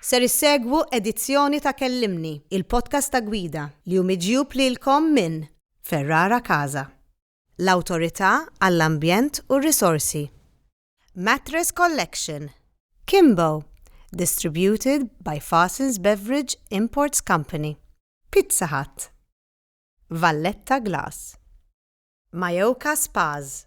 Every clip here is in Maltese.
Ser issegwu edizzjoni ta' Kellimni, il-podcast ta' gwida li hu miġjub lilkom minn Ferrara Casa, l-Awtorità għall-Ambjent u r-Risorsi, Mattress Collection, Kimbo, distributed by Farsons Beverage Imports Company, Pizza Hut, Valletta Glass, Mayoka Spas,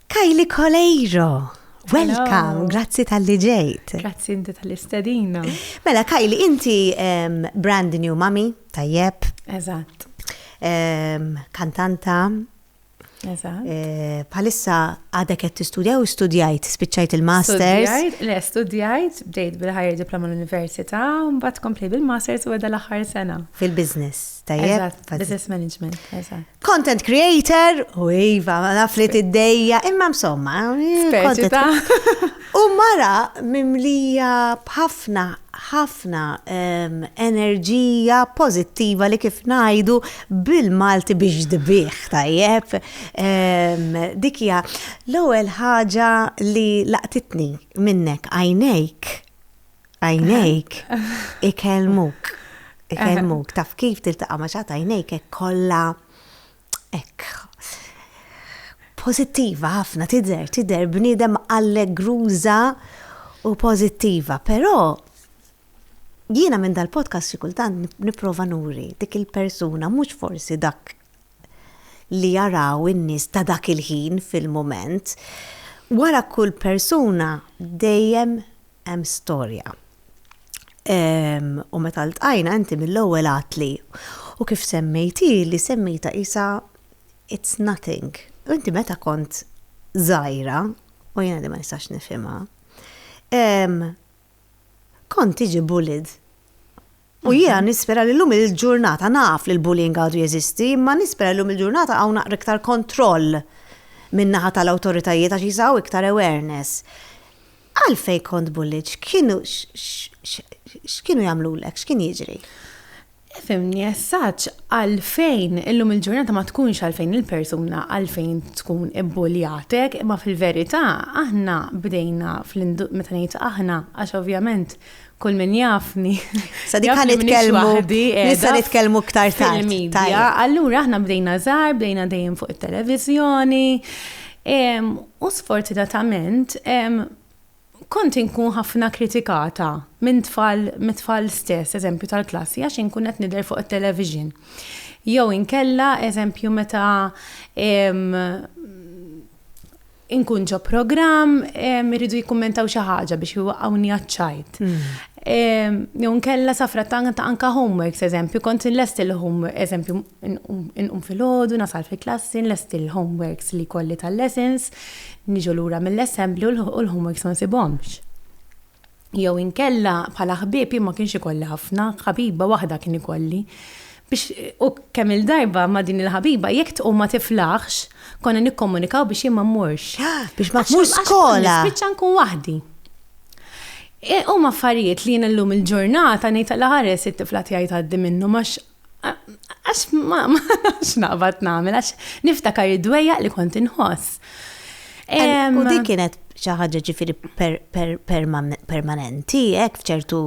Kylie Coleiro! Welcome, grazzi tal-li ġejt. Grazzi inti tal-li stedina. Mela, Kajli, inti um, brand new mami, tajjeb. Eżatt. Um, kantanta. Eżatt. Eh, palissa għadek qed tistudja u studjajt, spiċċajt il-masters. Studjajt, le, studjajt, bdejt bil-ħajja diploma l-università, mbagħad komplej bil-masters u għedha l-aħħar sena. Fil-business, tajjeb. Business management, eżatt. Content creator, u iva, naf li tiddejja, imma msomma. Speċi ta'. U mara mimlija b'ħafna, ħafna ehm, enerġija pozittiva li kif najdu bil-Malti biex dbiħ tajjeb. Ehm, Dikja, l-ewwel ħaġa li laqtitni minnek għajnejk Għajnejk ikellmuk. Ikellmuk. Taf kif tiltaqa' ma' xatt għajnejk hekk kollha hekk pozittiva ħafna tidher, tidher bniedem allegruża u pozittiva, però jiena minn dal-podcast xi kultant nipprova nuri dik il-persuna mhux forsi dak li jaraw in-nies ta' dak il-ħin fil-mument. Wara kull persuna dejjem hemm storja. U meta ltqajna inti mill-ewwel għedtli, u kif semmejt hi li semmejtha qisha it's nothing. U inti meta kont żgħira, u jiena din ma nistax nifhimha, Kont tiġi bullied. U jiena nispera li llum il-ġurnata naf li l-bullying għadu jeżisti, imma nispera li llum il-ġurnata hawn naqra iktar kontroll min-naħa tal-awtoritajiet għax jisa' hawn iktar awareness. Għalfejn kont bullied? X'kienu x'kienu jagħmlulek? X'kien jiġri? Ifhimni eżatt għalfejn illum il-ġurnata ma tkunx għalfejn il-persuna għalfejn tkun ibbuljatek, imma fil-verità aħna bdejna meta ngħid aħna għax ovvjament kull min jafni. Sa dik nitkellmu nista' nitkellmu iktar tard. Allura aħna bdejna żgħar, bdejna dejjem fuq it-televiżjoni. U sfortunatament Kont inkun ħafna kritikata minn tfal mit-tfal stess, eżempju tal-klassi, għax inkun qed nidher fuq it-television. Jew inkella, eżempju, meta inkun ġo programm iridu jikkummentaw xi ħaġa biex iwaqqgħuni għaċ-ċajt. Jew inkella safra tant anke homeworks, eżempju, kont inlest il-homework, eżempju, Inqum filgħodu, nasal fil-klassi, nlesti l-homeworks li jkolli tal-lessons, niġu lura mill-assembly u l-homeworks ma nsibhomx. Jew inkella bħala ħbieb jien ma kienx ikolli ħafna, ħabiba waħda kien ikolli. Biex u kemm il-darba ma' din il-ħabiba jekk tqum ma tiflaħx, konna nikkomunikaw biex jien ma mmurx. Biex ma tmurx skola. Spiċċa nkun waħdi. Huma affarijiet li jien illum il-ġurnata ngħid alla ħares it-tifla tiegħi tgħaddi minnhom għax Għax ma nafx naqbad nagħmel għax niftakar id-dwejja li kont inħoss. U dik kienet xi ħaġa ġifieri permanenti, hekk f'ċertu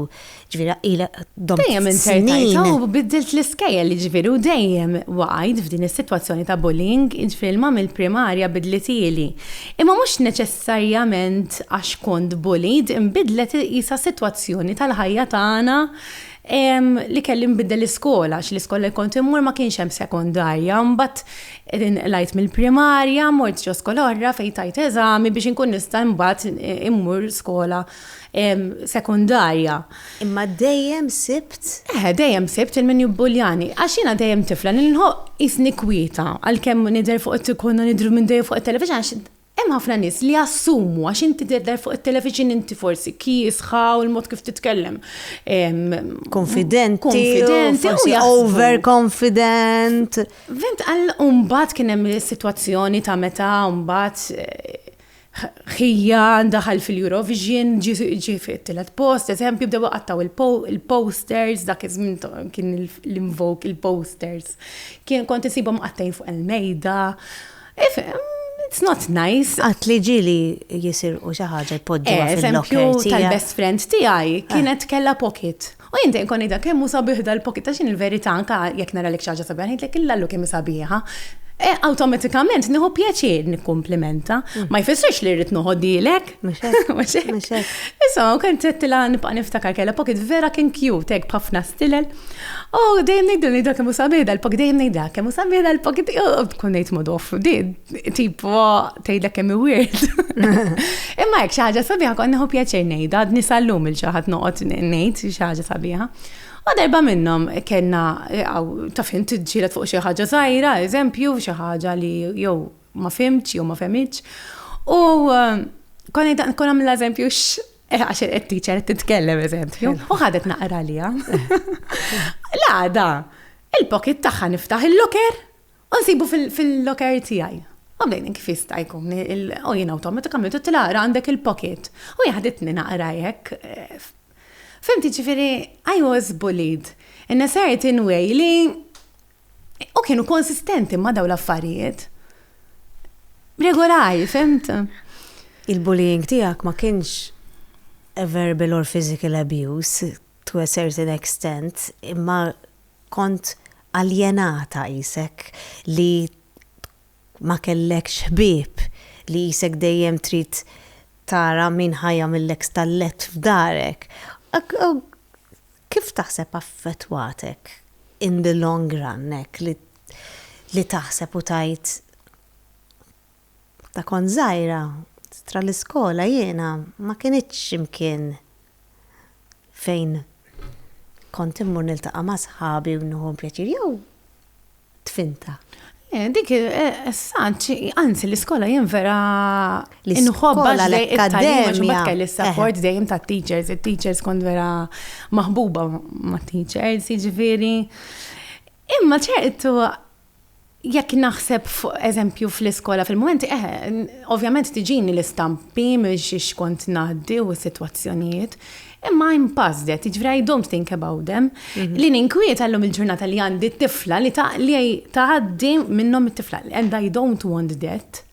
ġifieri ila dom. Dejjem intertajta u biddilt l-iskejjel li ġifieri u dejjem waqgħid f'din is-sitwazzjoni ta' bullying, ġifieri l-mam il-primarja bidlitieli. Imma mhux neċessarjament għax kont bullied, inbidlet isa sitwazzjoni tal-ħajja tagħna Ehm, li kelli nbiddel l-iskola, għax l-iskola li kont immur ma kienx hemm sekondarja, mbagħad inqlajt mill-primarja, mort ġo skola oħra fejn tajt eżami biex inkun nista' mbagħad immur skola ehm, sekondarja. Imma dejjem sibt? Eħe, dejjem sibt lil min jibbuljani, għax jiena dejjem tifla li nħobb qisni kwieta, għalkemm nidher fuq it-tikkun u nidher minn dejjem fuq it-television għax Hemm ħafna nies li jassumu għax inti tidher fuq it-television inti forsi kiesħa u l-mod kif titkellem. Konfidenti. Konfidenti. Forsi over confident. Vent għal umbat kien hemm is-sitwazzjoni ta' meta umbat eh, ħija daħal fil-Eurovision, ġi fit-tilet post, eżempju, bdew għattaw il-posters, dak iż-żmien kien l-invoke il-posters. Kien kont isibhom mqattgħin fuq il-mejda. Ifhem, it's not nice. Qatt li ġieli jisirqu xi ħaġa jpoġġuha eh, fil-locker tiegħek. tal-best friend tiegħi eh. kienet kellha pocket. U jien dejjem konida kemm hu sabiħ dal-pocket ta' xi il-verità anke jekk nara lek xi ħaġa sabiħa, ngħidlek illallu kemm sabiħa. E, awtomatikament nieħu pjaċir nikkumplimenta. Mm. Ma jfissirx li rrid noħodilek. Mux hekk, mux hekk. Mux hekk. Issa, u kien tettila nibqa' niftakar kellha pocket vera kien cute, hekk b'ħafna stilel. U dejjem ngħidu li dak kemm sabieda l-pocket dejjem ngħidha kemm sabieda l-pocket tkun ngħid mod off di tipo tgħidlek kemm weird. Imma hekk xi ħaġa sabiħa kont nieħu pjaċir ngħidha, għadni sallum il ġaħat noqgħod ngħid xi ħaġa sabiħa. U darba minnhom kellna taf int ġielet fuq xi ħaġa żgħira, eżempju, xi ħaġa li jew ma fimtx jew ma femmitx. U um, konna jtaq nkun għamil eżempju eh, għax qed teacher qed titkellem eżempju, u ħadet naqra liha. L-għada, il-pocket tagħha niftaħ il-loker u nsibu fil-loker tiegħi. U bdejn kif jista' jkun, u jien awtomatikament u tilaqra għandek il-pocket. U jaħditni naqra jekk. Eh, Fimti ġifiri, I was bullied in a certain way li u kienu konsistenti ma' daw l-affarijiet regolari, fimt? Il-bullying tiegħek ma kienx verbal or physical abuse to a certain extent imma kont aljenata qisek li ma kellekx ħbieb, li qisek dejjem trid tara min ħa jagħmillek stallett f'darek. Kif taħseb affettwatek in the long run hekk li li taħseb u tgħid meta kont żgħira tra l-iskola jiena ma kinitx imkien fejn kont immur niltaqa' ma' sħabi u nieħu pjaċir jew tfinta. Eh, dik, eh, s-sant, anzi, l-iskola jien vera l-iskola l-akkademija. Kelli eh. s-support dejjem ta' teachers, il-teachers kont vera maħbuba ma' teachers, ġifiri. Imma ċertu, jekk naħseb fuq eżempju fl-iskola fil-moment, eh, ovvjament tiġini l-istampi miex xkont naħdi u situazzjonijiet, Imma I'm past that, jiġifieri I don't think about them. Li ninkwieta llum il-ġurnata li għandi t-tifla li taqli tgħaddi minnhom it-tifla and I don't want that.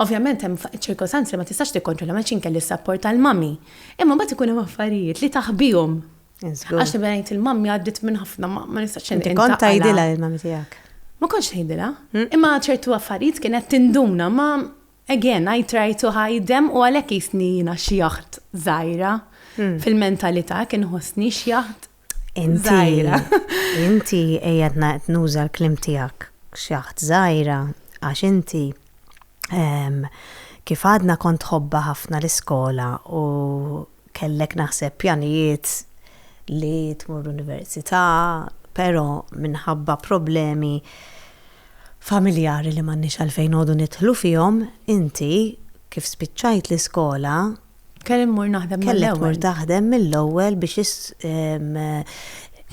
Ovvjament hemm ċirkostanzi li ma tistax tikkontrolla ma kelli s-sapport tal-mami. Imma mbagħad ikun hemm affarijiet li taħbihom. Għax nibda ngħid il-mammi għaddiet minn ħafna ma nistax inti. Kont tgħidilha il-mami tiegħek? Ma kontx tgħidilha. Imma ċertu affarijiet kienet tinduna ma Again, I try to hide them u għalhekk jisni jiena xi jaħt żgħira. Hmm. Fil-mentalità kien ħossni xi jaħt żgħira. Inti qiegħed ngħid nuża l-klim tiegħek xi jaħt żgħira għax inti ehm, kif għadna kont ħobba ħafna l-iskola u Kellek naħseb pjanijiet li tmur università, però minħabba problemi familjari li m'għandniex għalfejn noqogħdu nidħlu fihom, inti kif spiċċajt l-iskola, Kelli mmur naħdem mill-ewwel. Kellek tmur taħdem mill-ewwel biex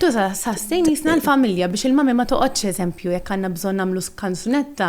Tu sastin jisna l-familja biex il-mami ma toqgħodx eżempju jekk għandna bżonn nagħmlu kanzunetta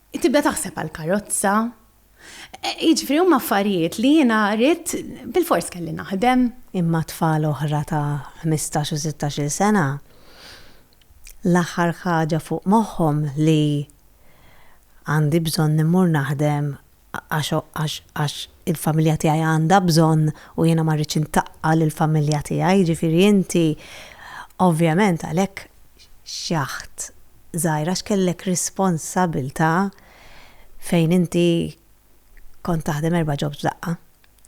Tibda taħseb għall-karozza. Jiġifieri huma affarijiet li jiena ridt bilfors kelli naħdem. Imma tfal oħra ta' ħmistax u sittax-il sena l-aħħar ħaġa fuq moħħhom li għandi bżonn immur naħdem għax għax il-familja tiegħi għandha bżonn u jiena ma rridx intaqqa' lill-familja tiegħi. Jiġifieri inti ovvjament għalhekk xaħt żgħir għax kellek responsabbiltà fejn inti kont taħdem erba' jobs f'daqqa.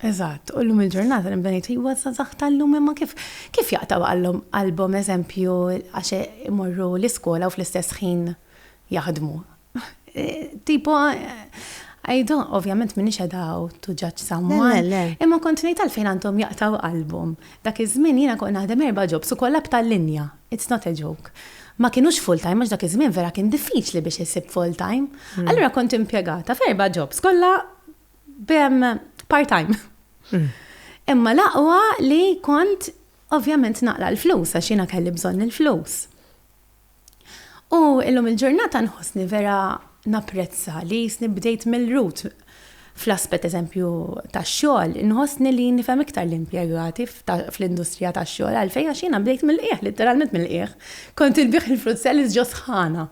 Eżatt, u llum il-ġurnata nibda ngħid iwa żgħażagħ tal-lum imma kif kif jaqtgħu għalhom qalbhom eżempju għax imorru l-iskola u fl-istess ħin jaħdmu. Tipo, għajdu, ovvjament minix edaw to judge someone. Imma kont nejt għalfejn għandhom jaqtaw qalbhom. Dak iż-żmien jiena kont naħdem erba' ġobs u kollha b'tal linja. It's not a joke. Ma kienux full time għax dak iż-żmien vera kien diffiċli biex isib full time. Hmm. Allura kont impjegata f'erba' ġobs kollha part time. Hmm. Imma laqwa li kont ovvjament naqla l-flus għax jiena kelli bżonn il-flus. U illum il-ġurnata nħossni vera napprezza li jisni bdejt mill-rut fl-aspett eżempju tax-xogħol, nħossni li nifhem iktar l-impjegati fl-industrija tax-xogħol għalfejn għax jiena bdejt mill-qiegħ, litteralment mill-qiegħ. Kont inbigħ il-fruit salads ġo sħana.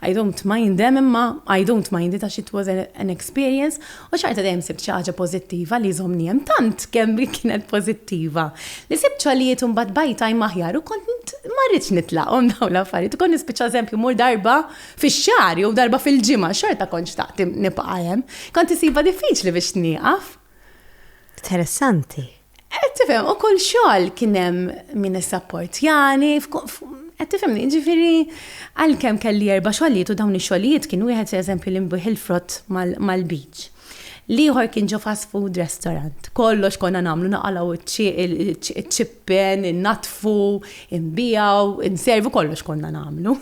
I don't mind them imma I don't mind it għax it was an experience U xorta dejjem sibt xi ħaġa pożittiva li jżommni hemm, tant kemm hi kienet pożittiva li sibt xogħlijiet u mbagħad by time aħjar u kont ma rridx nitlaqhom dawn l-affarijiet u kont nispiċċa eżempju mmur darba fix-xahar jew darba fil-ġimgħa, xorta kont xtaqt nibqa' hemm. Kont insibha diffiċli biex nieqaf. Interessanti. Qed tifhem, u kull xogħol kien hemm min issapportjani, qed tifhemni, jiġifieri għalkemm kelli erba' xogħlijiet u dawn ix-xogħlijiet kien wieħed eżempju li nbigħ il-frott mal-beach. L-ieħor kien ġo fast food restaurant. Kollox konna nagħmlu, naqalgħu ċ-ċippen, innaddfu, inbiegħu, inservu, kollox konna nagħmlu.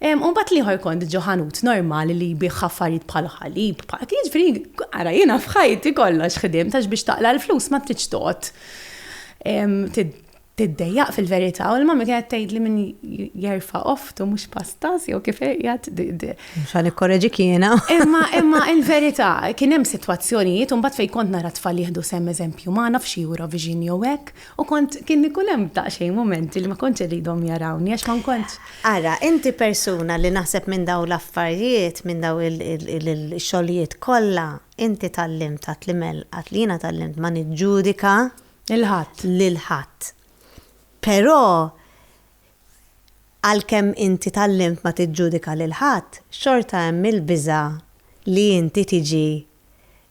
U mbagħad l-ieħor kont ġo ħanut normali li jbigħ affarijiet bħal ħalib, bħal jiġifieri ara jiena f'ħajti kollox ħdimt għax biex taqla' l-flus ma tridx toqgħod tiddejjaq fil-verità u l-mami kienet tgħidli min jerfa' oftu mhux pastas jew kif qiegħed. Mhux għal ikkoreġi kiena. Imma imma il-verità kien hemm sitwazzjonijiet u mbagħad fejn kont nara tfal jieħdu sehem eżempju magħna f'xi Eurovision jew hekk U kont, kien ikun hemm daqsxejn mumenti li ma kontx irridhom jarawni għax ma nkontx. Ara, inti persuna li naħseb minn dawn l-affarijiet, minn dawn il-xogħlijiet kollha, inti tgħallimt għad li mell, għad li jiena tgħallimt ma niġġudika. Lil ħadd. Lil ħadd. Però għalkemm inti tgħallimt ma tiġġudika lil ħadd, xorta hemm il-biża' li inti tiġi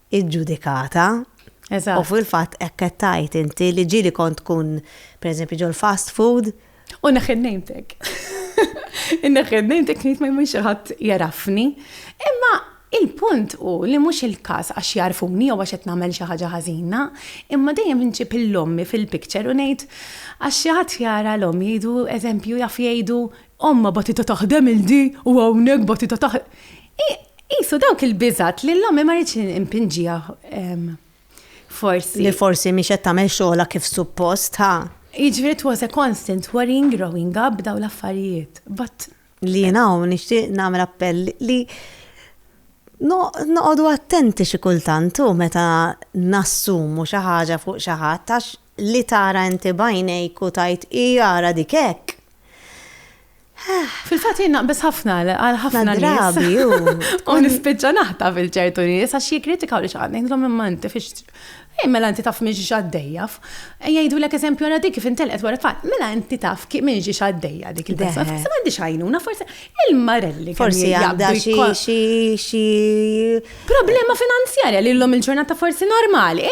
iġġudikata. Eżatt. U fil-fatt hekk qed tgħid inti li ġieli kont tkun pereżempju ġol-fast food. U neħħi name tag. Inneħħi name tag ngħid ma jmur xi ħadd jarafni. Imma il-punt hu li mhux il-każ għax jagħrfuni jew għax qed nagħmel xi ħaġa ħażina, imma dejjem inġib il-ommi fil-picture u ngħid għax xi ħadd jara l-omm jgħidu eżempju jaf jgħidu Ommha batitha taħdem il di u hawnhekk batitha taħ. Hi qisu dawk il-biżgħat li l-ommi ma ridtx impinġiha forsi. Li forsi mhix qed tagħmel xogħolha kif suppost, ha? Jiġifieri it was a constant worrying growing up dawn l-affarijiet. But Li jien hawn nixtieq nagħmel appell li noqogħdu attenti xi kultant u meta nassumu xi ħaġa fuq xi ħadd għax Li tara inti b'għajnejk u tgħid hi ara dik hekk. Fil-fatt jien naqbeż ħafna għal ħafna nies. Ħafna drabi hu. U nispiċċa naħta fil-ċertu nies għax jikkritikaw li x'għad ngħidlhom imma inti fiex Ej, mela inti taf minn xi għaddejja. Jgħidulek eżempju għara dik kif intelqet wara fatt, mela inti taf minn xi għaddejja dik il-persuna. Forsi m'għandix għajnuna, forsi Il-marelli forsi għandha xi xi problema finanzjarja li l-lum il-ġurnata forsi normali.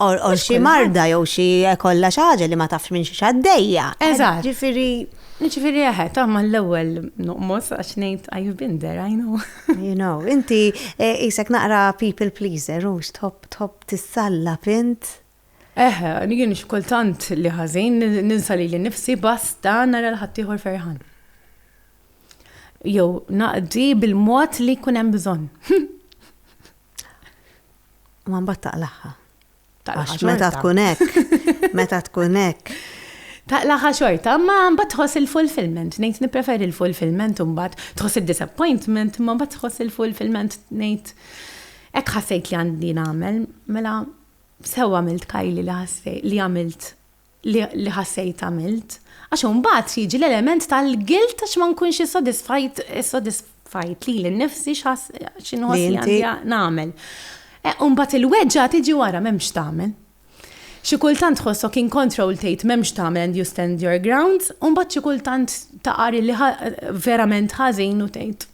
Or xi marda jew xi kollha xi ħaġa li ma tafx minn xi xaddejja. Eżatt. Ġifieri Ġifiri eħe, eh, taħma l-ewel nuqmos għax nejt I've been there, I know. You know, inti eh, isek naqra people pleaser, u xtħob tħob tissalla pint. Eħe, jien x'kultant li ħażin ninsa lili nnifsi basta nara l ħaddieħor ferħan. Jew naqdi bil-mod li jkun hemm bżonn. Ma mbagħad taqlaħħa. Għax meta tkun hekk, meta tkun hekk. Taqlaħħa xorta, ma mbagħad tħoss il-fulfillment, ngħid nippreferi l-fulfillment u mbagħad tħoss id-disappointment, ma mbagħad tħoss il-fulfillment ngħid hekk ħassejt li għandi nagħmel, mela Sew għamilt Kylie li ħassejt li għamilt li ħassejt għamilt. Għax imbagħad jiġi l-element tal-guilt għax ma nkunx issodisfajt issodisfajt lili nnifsi x'inħoss li għandi nagħmel. E, imbagħad il-weġġa tiġi wara m'hemmx tagħmel. Xi kultant tħossok in control tgħid m'hemmx tagħmel and you stand your ground, u mbagħad xi kultant taqar li verament ħażin u tgħid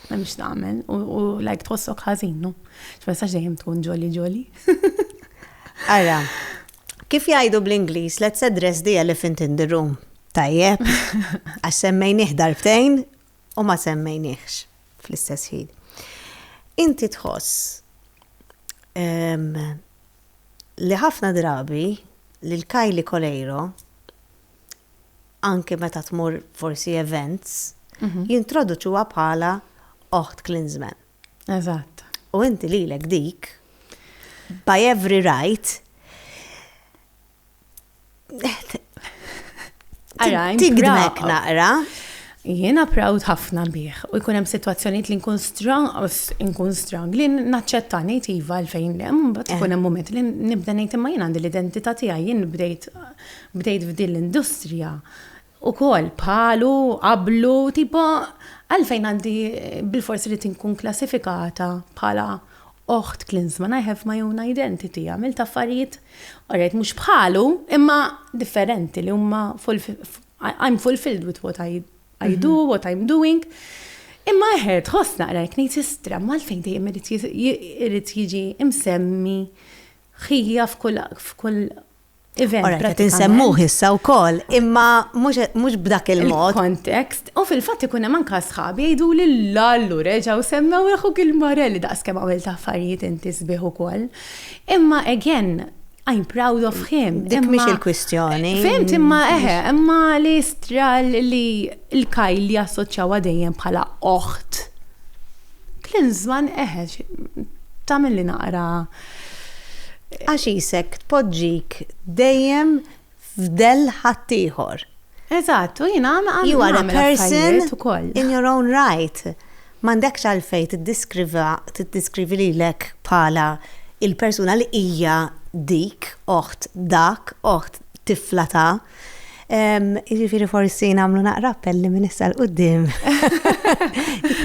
M'hemmx tagħmel u like tħossok ħażin, no? X'messaġġ dejjem tkun ġoli ġoli. Ara, kif jgħidu bl-Ingliż, let's address the elephant in the room. Tajjeb, għax semmejnih darbtejn u ma semmejniehx fl-istess ħin. Inti tħoss li ħafna drabi li l-Kajli Kolejro anke meta tmur forsi events, jintroduċuha bħala oħt Klinsmann. Eżatt. U inti lilek dik, by every right, tigdmek naqra. Jiena proud ħafna bih u jkun hemm sitwazzjonijiet li nkun strong, nkun strong li naċċetta ngħid iva għalfejn hemm, mbagħad ikun hemm mument li nibda ngħid imma jien għandi l-identità tiegħi jien bdejt Bdejt f'din l-industrija ukoll bħalu, qablu, tipo għalfejn għandi bil-fors irid inkun klassifikata bħala oħt Klinsman, I have my own identity, għamilt affarijiet, orajt mhux bħalu, imma differenti li huma I'm fulfilled with what I, I do, mhm. what I'm doing. Imma eħe, tħoss naqra jek ngħid sistra, malfejn dejjem irid jiġi imsemmi ħija f'kull event. Ora, qed insemmuh issa wkoll, imma mhux b'dak il-mod. Kontekst, u fil-fatt ikun hemm anke sħabi jgħidu li l-allu reġgħu semmew il-ħuk il-marelli daqs kemm għamilt affarijiet inti sbieħ ukoll. Imma again, I'm proud of him. Dik mhix il-kwistjoni. Fimt imma eħe, imma li stral li l-kaj li assoċjawa dejjem bħala oħt. Klinżman eħe, tagħmel li naqra Għaxisek tpoġġik dejjem f'dell ħaddieħor. Eżatt, u jiena nagħmel affarijiet ukoll. You are a person in your own right. M'għandekx għalfejn tiddiskrivi lilek bħala l-persuna li hija dik, oħt dak, oħt tifla ta'. Jiġifieri forsi nagħmlu naqra appell li minn issa l quddiem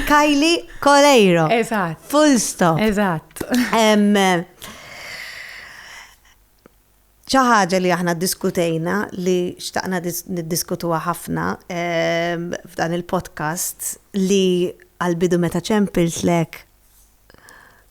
Kajli Kolejro. Eżatt. Full stop. Eżatt. ċaħġa li aħna diskutejna li xtaqna niddiskutuha ħafna f'dan il-podcast li għal-bidu meta ċempilt lek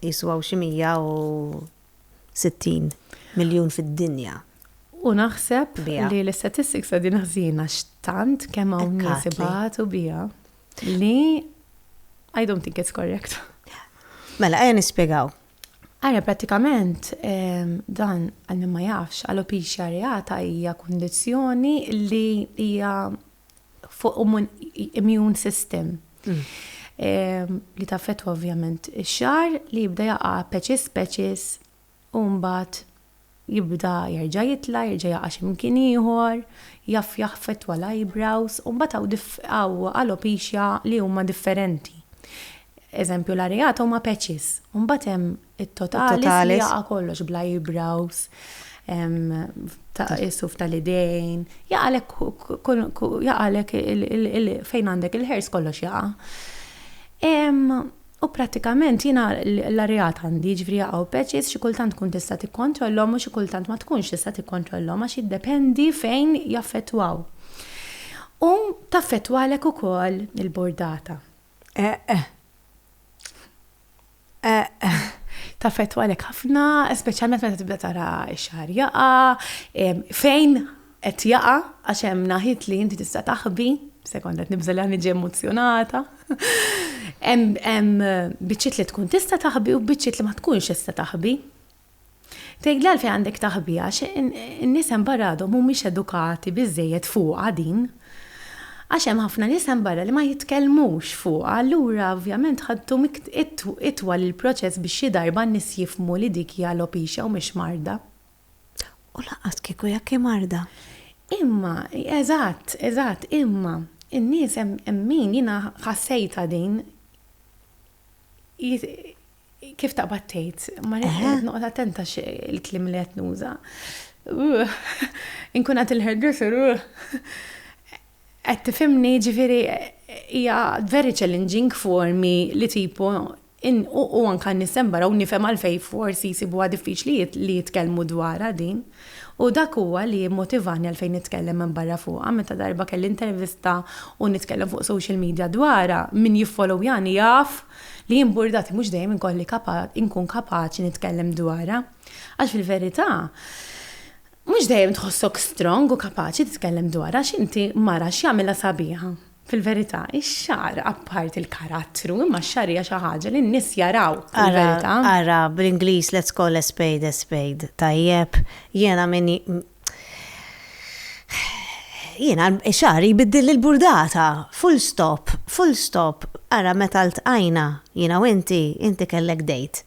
Qisu hawn xi 160 miljun fid-dinja. U naħseb li l-istatistics qegħdin ħżin għax tant kemm hawn nies ibatu biha li I don't think it's correct. Mela, ejja nispjegaw. Ara, pratikament, ehm, dan għal ma jafx, għal opixja reata hija kundizzjoni li hija fuq immune system li taffetwa ovvjament ix-xar li jibda jaqa' peċis peċis u mbagħad jibda jerġa' jitla, jerġa' jaqa' xi mkien ieħor, jaf jaffettwa l-eyebrows u mbagħad hawn alopecia li huma differenti. Eżempju l-areata huma peċis, u mbagħad hemm It-totalis li jaqa' kollox bl-eyebrows, is-suf tal-idejn, jaqalek fejn għandek il-hairs kollox jaqa'. U prattikament jiena l-areat għandi, ġifieri jaqgħu patches, xi kultant tkun tista' tikkontrollhom u xi kultant ma tkunx tista' tikkontrollhom għax jiddependi fejn jaffettwaw. U taffettwalek ukoll il-bordata. Eħ. Taffettwalek ħafna, speċjalment meta tibda tara x-xahar jaqa', fejn qed jaqa' għax hemm naħit li inti tista' taħbi, sekonda nibża' li niġi emozzjonata. Hemm biċċiet li tkun tista' taħbi u biċċiet li ma tkunx tista' taħbi. Tgħidli għalfejn għandek taħbi għax in-nies hemm barra għadhom mhumiex edukati biżżejjed fuqha din. Għax hemm ħafna nies hemm barra li ma jitkellmux fuqha allura ovvjament ħa ddum itwal il-proċess biex xi darba n-nies jifhmu li dik hi alopecia u mhix marda. U lanqas kieku jekk hi marda. Imma, eżatt, eżatt, imma n-nies hemm min, jiena ħassejtha din, Kif taqbad tgħid, ma qed noqgħod attenta il-klim li qed nuża. Inkun għad il-hairdresser, qed tifhimni ġifieri hija very challenging for me li tipu u anka nisem barra u nifhem għalfej forsi jisibuha diffiċli li jitkellmu dwarha din. U dak huwa li mmotivani għalfejn nitkellem minn barra fuqha, meta darba kelli intervista u nitkellem fuq social media dwarha, min jiffollowyani jaf li jien burdati mhux dejjem inkolli inkun kapaċi nitkellem dwarha. Għax fil-verità, mhux dejjem tħossok strong u kapaċi titkellem dwarha għax inti mara x'jagħmilha sabiħa. Fil-verità, ix-xagħar apparti l-karattru, imma x-xagħar hija xi ħaġa li n-nies jaraw fil-verità. Ara, ara, bl-Ingliż let's call a spade a spade, tajjeb? Jiena min ji. Jiena xagħri jbiddilli l-burdata, full stop, full stop. Ara meta ltqajna, jiena u inti, inti kellek date.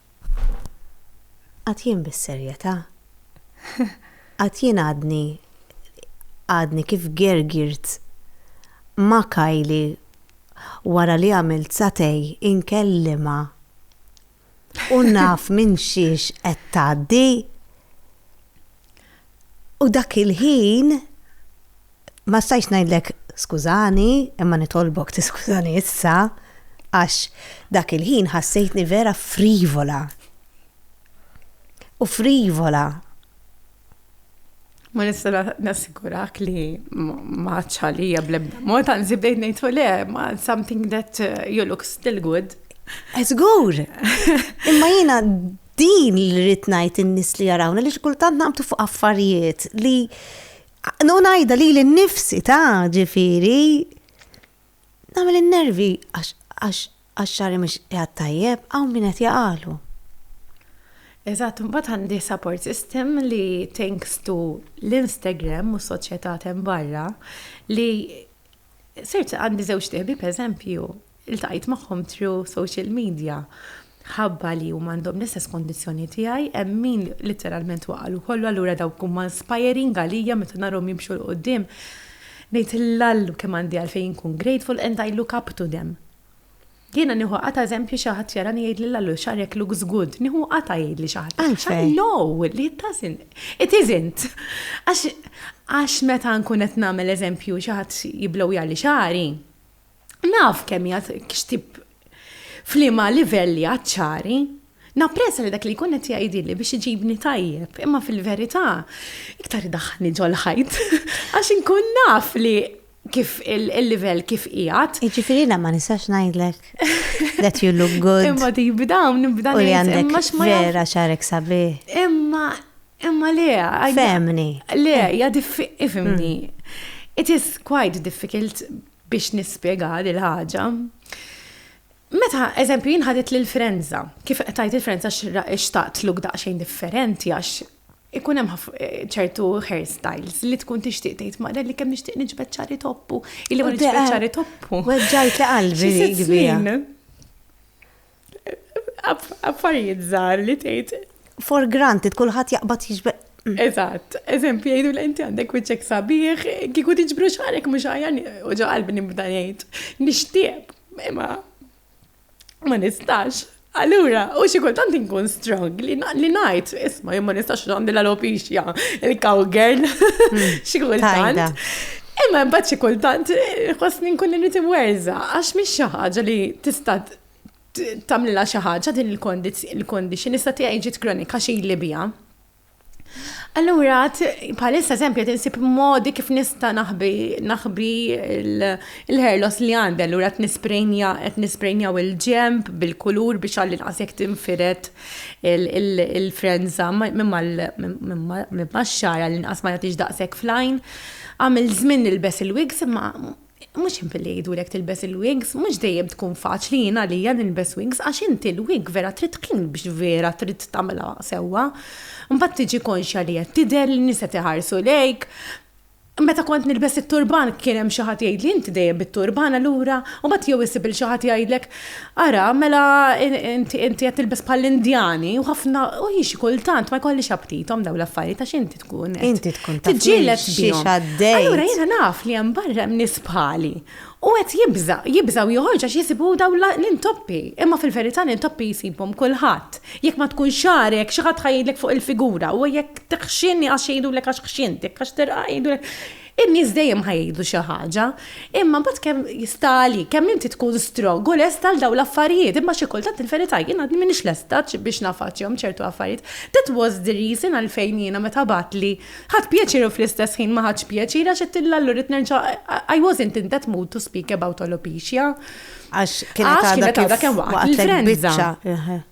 Għad jien bis-serjetà? Għad jien għadni għadni kif gergirt ma' Kylie wara li għamilt satej inkellimha u naf minn xiex qed tgħaddi? U dak il-ħin Ma stajtx ngħidlek skużani, imma nitolbok tiskużani issa, għax dak il-ħin ħassejtni vera frivola. U frivola. Ma nista' nassigurak li ma ċalija blebda mod, anzi bdejt ngħidu le, ma something that uh, you look still good. Eżgur! Imma jiena din li rrid ngħid in-nies li jarawna li xkultant naqbtu fuq affarijiet li U ngħidha lili nnifsi ta' ġifieri nagħmel in-nervi għax xagħri mhux qiegħed tajjeb hawn min qed jaqalu. Eżatt, imbagħad għandi support system li thanks to l-Instagram u s-soċjetà t'hemm barra li Sirt għandi żewġ tieħbi pereżempju, iltqajt magħhom tru social media. Ħabba li huma għandhom l-istess kondizzjoni tiegħi, hemm min literalment waqalu kollu allura dawk huma inspiring għalija meta narhom jimxu l quddiem ngħid l-Allu kemm għandi għalfejn inkun grateful and I look up to them. Jiena nieħu qatgħa eżempju xi ħadd jarani jgħidli Lallu xagħrek looks good. Nieħu qatgħa jgħidli xi ħadd. Għalfejn? No, li it doesn't. It isn't. Għax għax meta nkun qed nagħmel eżempju xi ħadd jiblowjali xagħri, naf kemm hija x'tip f'liema livell li għad xagħri. Napprezza li dak li jkun qed jgħidilli biex iġibni tajjeb, imma fil-verità iktar idaħħalni ġol-ħajt għax inkun naf li kif il-livell kif qiegħed. Jiġifieri jiena ma nistax ngħidlek that you look good. Imma tibi dawn nibda ngħid. U li għandek vera xarek sabi. Imma imma le. Femni. Le, ja ifimni. Mm. It is quite difficult biex nispjega dil ħaġa. Meta, eżempju, jinħadit l-frenza, kif tajt il-frenza xtaqt luk daqxejn differenti għax Ikun hemm ċertu hairstyles li tkun tixtieq tgħid mara li kemm nixtieq niġbed ċari toppu. Illi ma niġbed ċari toppu. Weġġajt li qalbi li kbira. Affarijiet żgħar li tgħid. For granted, kulħadd jaqbad jiġbed. Mm. Eżatt, eżempju jgħidu li inti għandek wiċċek sabiħ, kieku tiġbru xarek mhux ħajja u ġo qalbi nibda ngħid. Nixtieq, imma ma nistax. Allura, u xi kultant inkun strong li ngħid, isma' jien ma nistax għandi l-alopixja, il-cowgirl, hmm. xi kultant. Imma mbagħad xi kultant eh, ħossni nkun irid imwerża għax mhix xi ħaġa li tista' tagħmlilha xi ħaġa din il-kondizzjoni issa tiegħi ġiet kronika xi li biha. Allura, bħalissa eżempju qed insib modi kif nista' naħbi naħbi l-ħerlos li għandi, allura qed nisprejnja qed nisprejnjaw il-ġemp bil-kulur biex għalli nqas jekk tinfired il-frenza minn max-xagħar għalli nqas ma jagħtix daqshekk fl-għajn. Għamil żmien nilbes il-wigs imma Mhux simple li jgħidulek tilbes il-wigs, mhux dejjem tkun faċli jien għalija nilbes wigs għax inti l-wig vera trid tkun biex vera trid tagħmilha sewwa. Mbagħad tiġi konxja li qed tidher, li n-nies qed iħarsu lejk. Meta kont nilbes it-turban kien hemm xi ħadd jgħidli inti dejjem bit-turban allura? U mbagħad jew issib lil xi ħadd jgħidlek ara mela inti qed tilbes bħall-Indjani u ħafna u hi xi kultant ma jkollix apptithom dawn l-affarijiet għax inti tkun Inti tkun taf tiġġieled xiex bihom. għaddej. Allura jiena naf li hemm barra hemm nies bħali. U qed jibża, jibżaw joħorġ għax jisibu daw la- l-intoppi. Imma fil-verità l-intoppi jsibhom kulħadd. Jekk ma tkun xarek, xi ħadd ħa jgħidlek fuq il-figura. U jekk tiħxinni għax jgħidulek għax ħxintek, għax terqa' jgħidulek. In-nies dejjem ħa jgħidu xi ħaġa, imma mbagħad kemm jista' għalik, kemm inti tkun strong u lest għal dawn l-affarijiet, imma xi kultant il-verità jien għadni m'iniex lesta biex naffaċċjahom ċertu affarijiet. That was the reason għalfejn jiena meta bagħatli, ħadt pjaċir u fl-istess ħin ma ħadtx pjaċir għax għedt lil Lallu rrid nerġa' I wasn't in that mood to speak about alopecia. Għax kienet għadha kemm waqgħet l-influenza.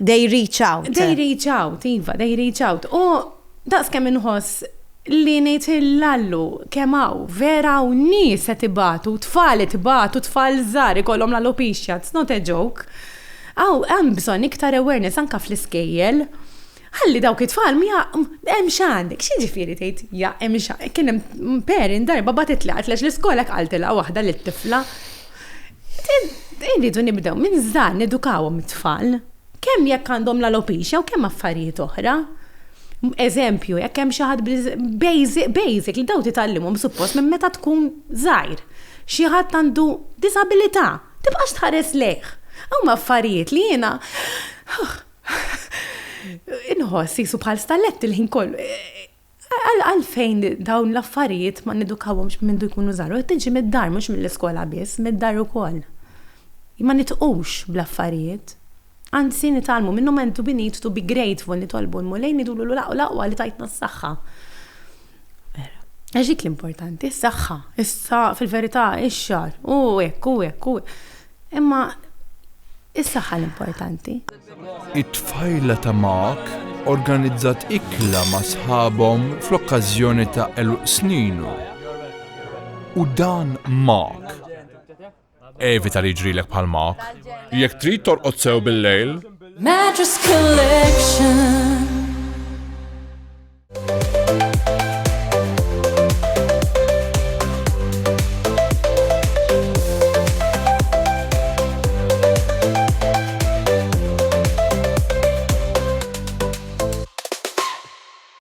They reach out. They reach out, iva, they reach out. U daqs kemm inħoss li ngħid il-lallu kemm hawn vera u nies se tibatu, tfal tibatu, tfal żgħar ikollhom l-alopecia, it's not a joke. Aw hemm bżonn iktar awareness anka fl-iskejjel. Ħalli dawk it-tfal ma hemm x'għandek, x'jiġifieri tgħid ja hemm xa. Kien hemm parent darba batet li għax l-iskola qaltilha waħda li t-tifla. Irridu nibdew minn żgħar nedukawhom it-tfal kemm jekk għandhom l-alopecia u kemm affarijiet oħra. Eżempju, jekk hemm xi ħadd basic, basic li daw titgħallimhom suppost minn meta tkun żgħir. Xi ħadd għandu disabilità, tibqax tħares lejh. Huma affarijiet li jiena Inħoss jisu bħal stallett il-ħin kollu. Għalfejn dawn l-affarijiet ma nidukawhomx minn du jkunu żaru, tiġi mid-dar mhux mill-iskola biss, mid-dar ukoll. Ma nitqux bl-affarijiet. Anzi nitalmu minnu mentu bi need to be grateful nitolbu l-mulej nidulu l-aqwa li tajtna s-saħħa. Għax dik l-importanti, s-saħħa, issa fil-verità ix-xar, u hekk u hekk u Imma is-saħħa l-importanti. It-tfajla ta' Mark organizzat ikla ma' sħabhom fl-okkażjoni ta' għeluq sninu. U dan Mark. Evita li jġrilek bħal Mark. Jekk trid torqod sew bil-lejl. Mattress Collection.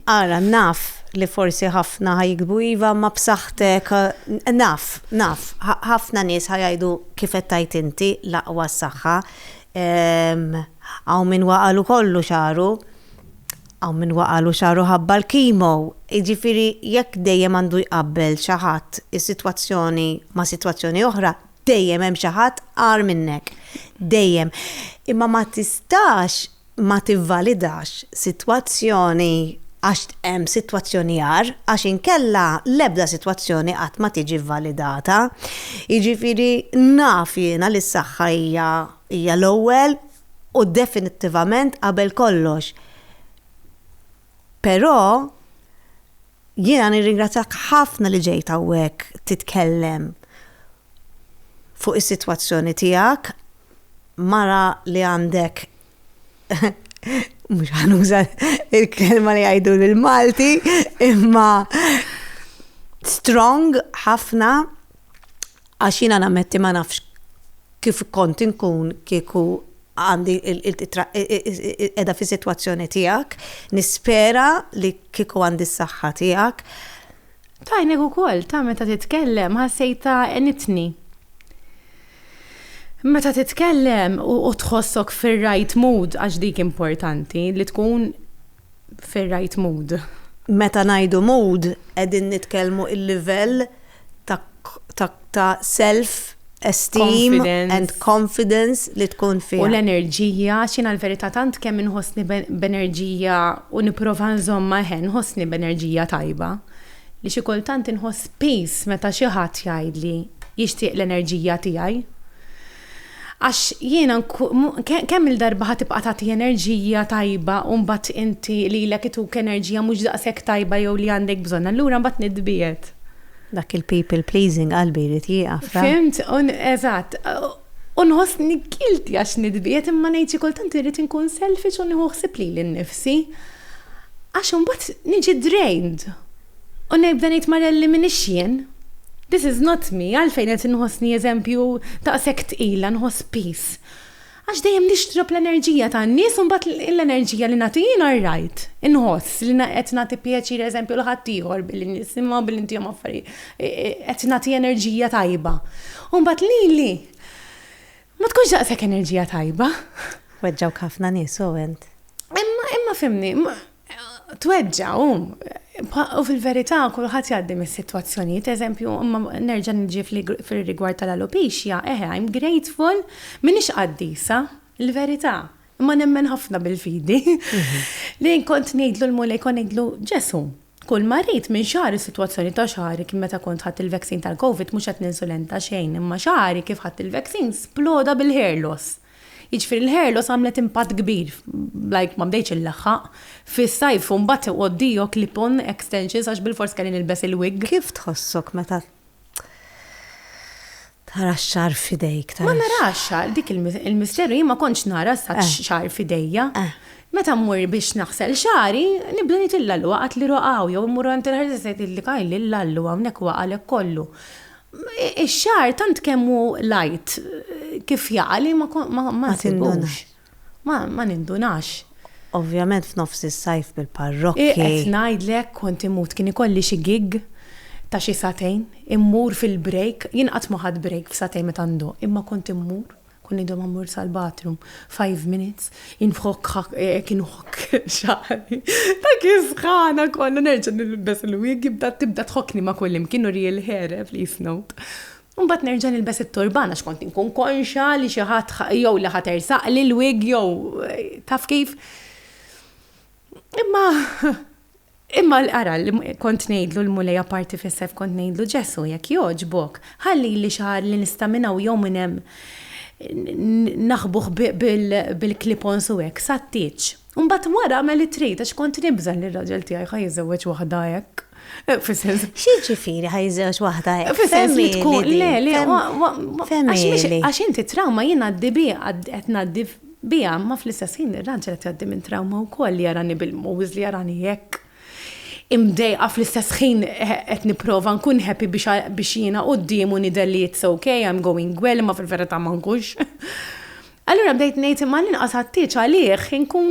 Ara, naf li forsi ħafna ħajkbu iva ma b'saħħtek, naf, naf, ħafna nies ħajajdu kif qed tajt inti l-aqwa s-saħħa. Hawn min waqalu kollu xaru. Hawn min waqagħlu xagħru ħabba l-kimo. Jiġifieri jekk dejjem għandu jqabbel xi ħadd is-sitwazzjoni ma' sitwazzjoni oħra, dejjem hemm xi ħadd agħar minnek. Dejjem. Imma ma tistax ma tivvalidax sitwazzjoni għax hemm sitwazzjoni agħar, għax inkella l-ebda sitwazzjoni qatt ma tiġi vvalidata. Jiġifieri naf jiena li s-saħħa hija hija l-ewwel u definittivament qabel kollox. Però jiena nirringrazzjak ħafna li ġejt hawnhekk titkellem fuq is-sitwazzjoni tiegħek, mara li għandek mhux ħanuża il-kelma li jgħidu l-Malti, imma strong ħafna għax jiena nammetti ma nafx kif kont inkun kieku għandi qiegħda fis-sitwazzjoni tiegħek, nispera li kieku għandi s-saħħa tiegħek. Tajnek ukoll ta' meta titkellem ħassejta enitni. Meta titkellem u tħossok fir-right mood għax dik importanti li tkun fir-right mood. Meta ngħidu mood qegħdin nitkellmu il-livell ta' self esteem and confidence li tkun fih. U l-enerġija, għax jiena l-verità tant kemm inħossni b'enerġija u nipprova nżommha eħe nħossni b'enerġija tajba li xi kultant inħoss peace meta xi ħadd jgħidli jixtieq l-enerġija tiegħi. Għax jiena kemm-il darba ħa tibqa' tagħti enerġija tajba u mbagħad inti lilek ituk enerġija mhux daqshekk tajba jew li għandek bżonn, allura mbagħad nitbiegħed. Dak il-people pleasing qalbi jrid jieqaf, ra? Fhimt, eżatt. U nħossni guilty għax nitbiegħed imma ngħid xi kultant irrid inkun selfish u nieħu ħsieb lili nnifsi. Għax imbagħad niġi drained. U nibda ngħid Marelli m'iniex jien. This is not me, għalfejn qed inħossni eżempju daqshekk tqila, nħoss piż? Għax dejjem nixtrob l-enerġija tan-nies u mbagħad l-enerġija li nagħti jiena r-right. Inħoss li qed nagħti pjaċir eżempju lil ħaddieħor billi nisimgħu, billi ntihom affarijiet, qed nagħti enerġija tajba. U mbagħad lili ma tkunx daqshekk enerġija tajba. Weġġgħuk ħafna nies, Owen. Imma fhimni, Tweġġa' hu. U fil-verità kulħadd jgħaddi minn sitwazzjonijiet, eżempju, imma nerġa' niġi fir-rigward tal-alopixja, eħe, I'm grateful, m'iniex qaddisa, il-verità, imma nemmen ħafna bil-fidi, li kont ngħidlu l-Mulej, kont ngħidlu, Ġesù, kull ma rrid minn xagħri, sitwazzjoni ta' xagħri kien meta kont ħadt il-vaccine tal-Covid, mhux qed ninsulenta xejn, imma xagħri kif ħadt il-vaccine sploda bil-hair loss. Jiġifieri l-Herlos għamlet impatt kbir, like ma bdejtx inlaħħaq, fis-sajf u mbagħad iqgħoddihok clip-on extensions għax bilfors kelli nilbes il-wig. Kif tħossok meta tara x-xagħar f'idejk? Ma narax xagħar, dik il-misteru, jien ma kontx nara x-xagħar f'idejja. Meta mmur biex naħsel xagħri, nibda ngħid lil Lallu waqgħatli roqgħa jew immur għand il-hairdresser ngħidilha, Kay, lil Lallu hawnhekk waqgħalek kollu. Ix-xagħar tant kemm hu light kif jaqa' li ma nsibux. Ma nindunax. Ovvjament f'nofs is-sajf bil-parrokki. Qed ngħidlek kont imut kien ikolli xi gig ta' xi sagħtejn, immur fil-break, jien qatt ma ħadt break f'sagħtejn meta nduq, imma kont immur. Kont ngħidhom ammur sal-bathroom, five minutes, inħokk ħakk, hekk inħokk xagħri. Dak is-sħana kollha nerġa' nilbes il-wig jibda tibda tħokkni ma' kullimkien u real hair, eh, please note. U mbagħad nerġa' nilbes it-turban għax kont inkun konxja li xi ħadd jew li ħa tersaqli l-wig jew taf kif. Imma Imma l-qara li kont ngħidlu l-Mulej apparti fis-sejf kont ngħidlu Ġesu jekk jogħġbok, ħalli li xi ħadd li nista' minn hawn jew minn hemm naħbuh bil-clip-ons u hekk sat-tieġ. U mbagħad wara agħmel li trid għax kont nibża' li r-raġel tiegħi ħa jiżżewweġ waħda hekk. Fis-sens. X'jiġifieri ħa jiżżewweġ waħda hekk? Fis-sens li tkun le, le, għax inti trawma jien għaddi bih qed ngħaddi biha, imma fl-istess ħin ir-raġel qed jgħaddi minn trawma wkoll li jarani bil-mowż, li jarani hekk imdejqa fl-istess ħin qed nipprova nkun happy biex jiena quddiemu nidher li it's okay, I'm going well, imma fil-verità ma nkunx. Allura bdejt ngħid imma l-inqas għattieġ għalih inkun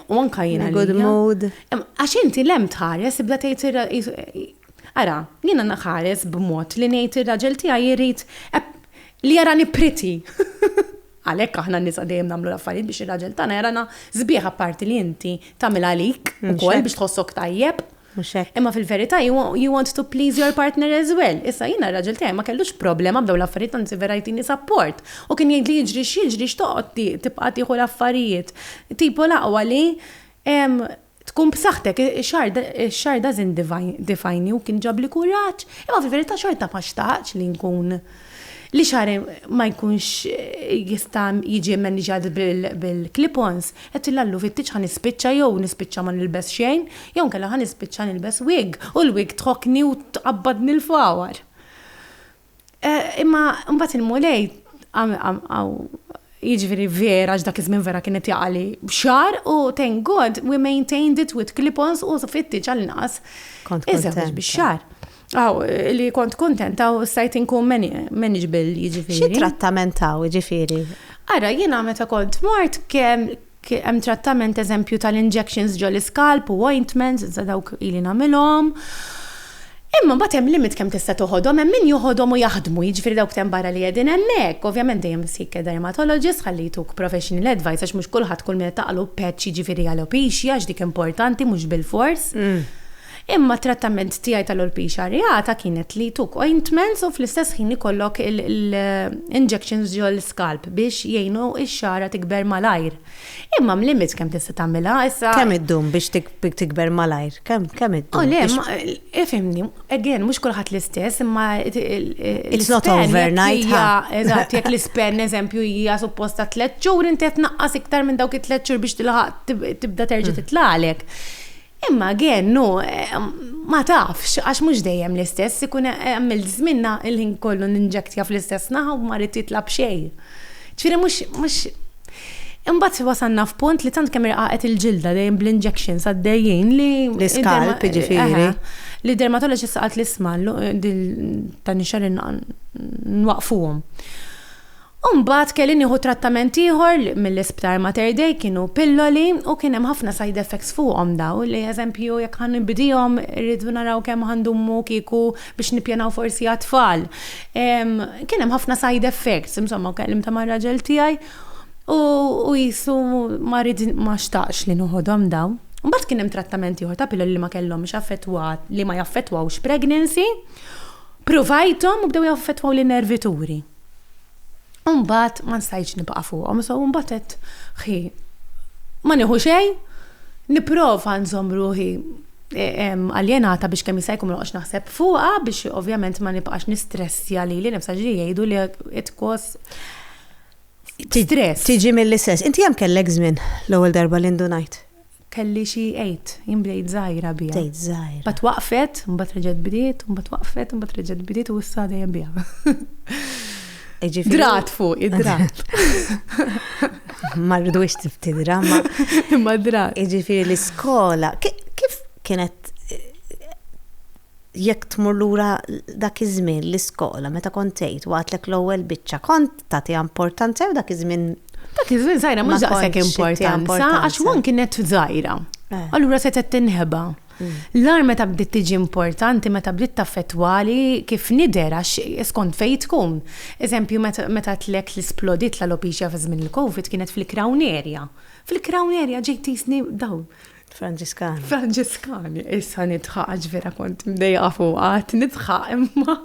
u anka jiena. Good mood. Għax inti lem tħares ibda tgħid Ara, jiena naħares b'mod li ngħid ir-raġel tiegħi jrid li jarani pretty. Għalhekk aħna n-nisa dejjem nagħmlu l-affarijiet biex ir-raġel tagħna jarana sbieħ apparti li inti tagħmel għalik ukoll biex tħossok tajjeb. Imma fil-verità you want to please your partner as well. Issa jiena r-raġel tiegħi ma kellux problema b'dawn l-affarijiet anzi vera jtini support. U kien jgħidli jiġri x'jiġri x'toqgħod tibqa' tieħu l-affarijiet. Tipo l-aqwa li Tkun b'saħħtek, ix-xahar dażin difajni u kien ġabli kuraġġ, imma fil-verità xorta ma xtaqtx li nkun li xagħri ma jkunx jista' jiġi mmaniġat bil-clip-ons. Għedtilha għallu fittiġ ħa nispiċċa jew nispiċċa ma nilbes xejn, jew inkella ħa nispiċċa nilbes wig u l-wig tħokkni u tqabbadni l-fawar. Eh, imma mbagħad il-mulej jiġifieri vera għax dak iż-żmien vera kienet jaqali b'xar u thank God we maintained it with clip-ons u fitti ċal-inqas. Kont kontent. bix-xar. Aw, li kont kontent, aw stajt inkun manageable jiġifieri. Xi trattament taw jiġifieri? Ara, jiena meta kont mort kemm Hemm trattament eżempju tal-injections ġol-iskalp u ointments, iżda dawk ili nagħmilhom. Imma mbagħad hemm limit kemm tista' toħodhom, hemm min joħodhom u jaħdmu, jiġifieri dawk t'hemm barra li qegħdin hemmhekk. Ovvjament dejjem seek a dermatologist ħalli jtuk professional advice għax mhux kulħadd kull min qed taqgħlu patch jiġifieri alopecia għax dik importanti mhux bilfors. Imma t-trattament tiegħi tal-olpiċa rjata kienet li took ointments u fl-istess ħin ikollok l-injections ġol-scalp biex jgħinu x-xagħra tikber malajr. Imma hemm limit kemm tista' tagħmilha, issa. Kemm iddum biex tikber malajr? Kemm, kemm iddum? O le, ma, ifhimni, again, mhux kulħadd l-istess, imma l-ispan. It's not overnight, ħa. Eżatt, jekk l-ispan, eżempju, hija suppost ta' tliet xhur, inti qed tnaqqas iktar minn dawk it-tliet xhur biex tilħaq tibda terġa' titlagħlek. Imma again, no, ma tafx, għax mhux dejjem l-istess, ikun għamilt żmien il-ħin kollu ninġektja fl-istess naħa u ma ridt jitla' b'xejn. Ġifieri mhux, mhux. Imbagħad wasalna f'punt li tant kemm irqaqet il-ġilda dejjem bl-injections għaddejjin li. L-iskalp jiġifieri. Li d-dermatologist qaltli isma' din tan-nixxar nwaqfuhom. U mbagħad kelli nieħu trattament ieħor mill-isptar Mater Dei, kienu pilloli u kien hemm ħafna side effects fuqhom dawl, eżempju jekk ħa nibdihom irridu naraw kemm ħa ndumu kieku biex nippjanaw forsi għat-tfal. Kien hemm ħafna side effects, insomma kellimtha mar-raġel tiegħi u qisu ma rid ma xtaqx li noħodhom dawn. Mbagħad kien hemm trattament ieħor ta' pilloli li ma kellhomx affettwa li ma jaffettwawx pregnancy, pruvajthom u bdew jaffettwaw lin-nervituri. U mbagħad ma nstajtx nibqa' fuqhom, so mbagħad qed ħi ma nieħu xejn, nipprova nżomm ruħi e, aljenata biex kemm jista' jkun noqgħodx naħseb fuqha biex ovvjament ma nibqax nistressja li li nifsa ġri jgħidu li qed kos stress. Tiġi mill-istess. Inti hemm kellek żmien l-ewwel darba li ndunajt? Kelli xi għid, jien bdejt żgħira biha. Bdejt żgħira. Mbagħad waqfet, mbagħad reġgħet bdiet, mbagħad waqfet, mbagħad reġgħet bdiet u issa dejjem biha. Jiġifieri- drat fuq, id-drat. Ma rridux tiftidra, ma. Imma drat. Jiġifieri l-iskola, kif kienet Jekk tmur lura dak iż-żmien l-iskola meta kont tgħid u għadtlek l-ewwel biċċa kont tagħtiha importanza jew dak iż-żmien Dak iż-żmien żgħira mhux daqshekk importanza għax one kienet żgħira. Eh. Allura setgħet tinħeba. Mm. L-ar meta bdiet tiġi importanti, meta bdiet taffettwali kif nidher għax skont fejn tkun. Eżempju meta tlek li splodit l-alopecia fi żmien il-COVID kienet fil-crown area. Fil-crown area ġejt tisni daw Franġiskani. Franġiskani, issa nidħaq għax vera kont mdejqa fuq għat nidħaq imma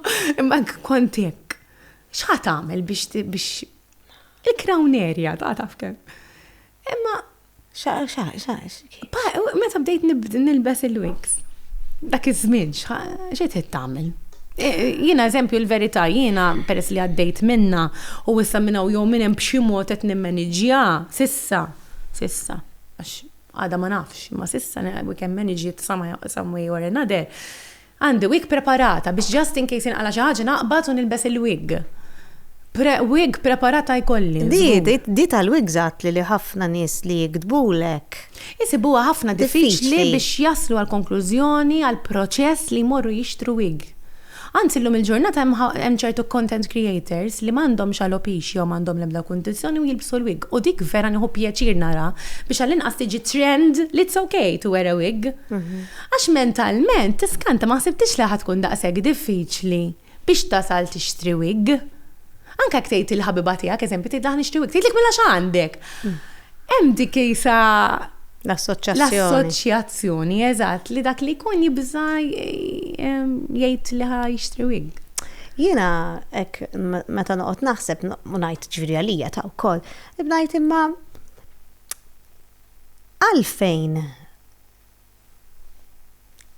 imma kont hekk. X'ħat għamel biex biex il-crown area ta' taf kemm. Imma xa xa xa. Meta bdejt nilbes il-wigs. Dak iż-żmien x'qed qed tagħmel? E, jiena eżempju l-verità jiena peress li għaddejt minna u issa minna u jew minn hemm b'xi mod qed nimmaniġġja sissa sissa għax Għada ma nafx, imma s'issa week hemm managed some way or another, għandi wig preparata biex just in case jinqala' xi ħaġa naqbad u nilbes il-wig. Wig preparata jkolli. Di tal-wigs għadtli li ħafna nies li jiktbulek. Isibuha ħafna diffiċli biex jaslu għall-konklużjoni għall-proċess li jmorru jixtru wig. Anzi llum il-ġurnata hemm ċertu content creators li m'għandhomx alopecia u m'għandhom l-ebda kundizzjoni u jilbsu l-wig u dik vera nieħu pjaċir naraha biex għall-inqas tiġi trend li it's ok to wear a wig. Għax mentalment tiskanta ma ħsibtix li ħa tkun daqshekk diffiċli biex tasal tixtri wig. Anke jekk tgħid lill-ħabiba tiegħek eżempju tgħidilha ħa nixtri wig tgħidlek mela x'għandek. Hemm dik isa l-assoċjazzjoni, eżatt, li dak li jkun jibża' jgħid li ħa jixtri wig. Jiena hekk meta noqgħod naħseb u ngħid ġifieri għalija ta' wkoll, ngħid imma għalfejn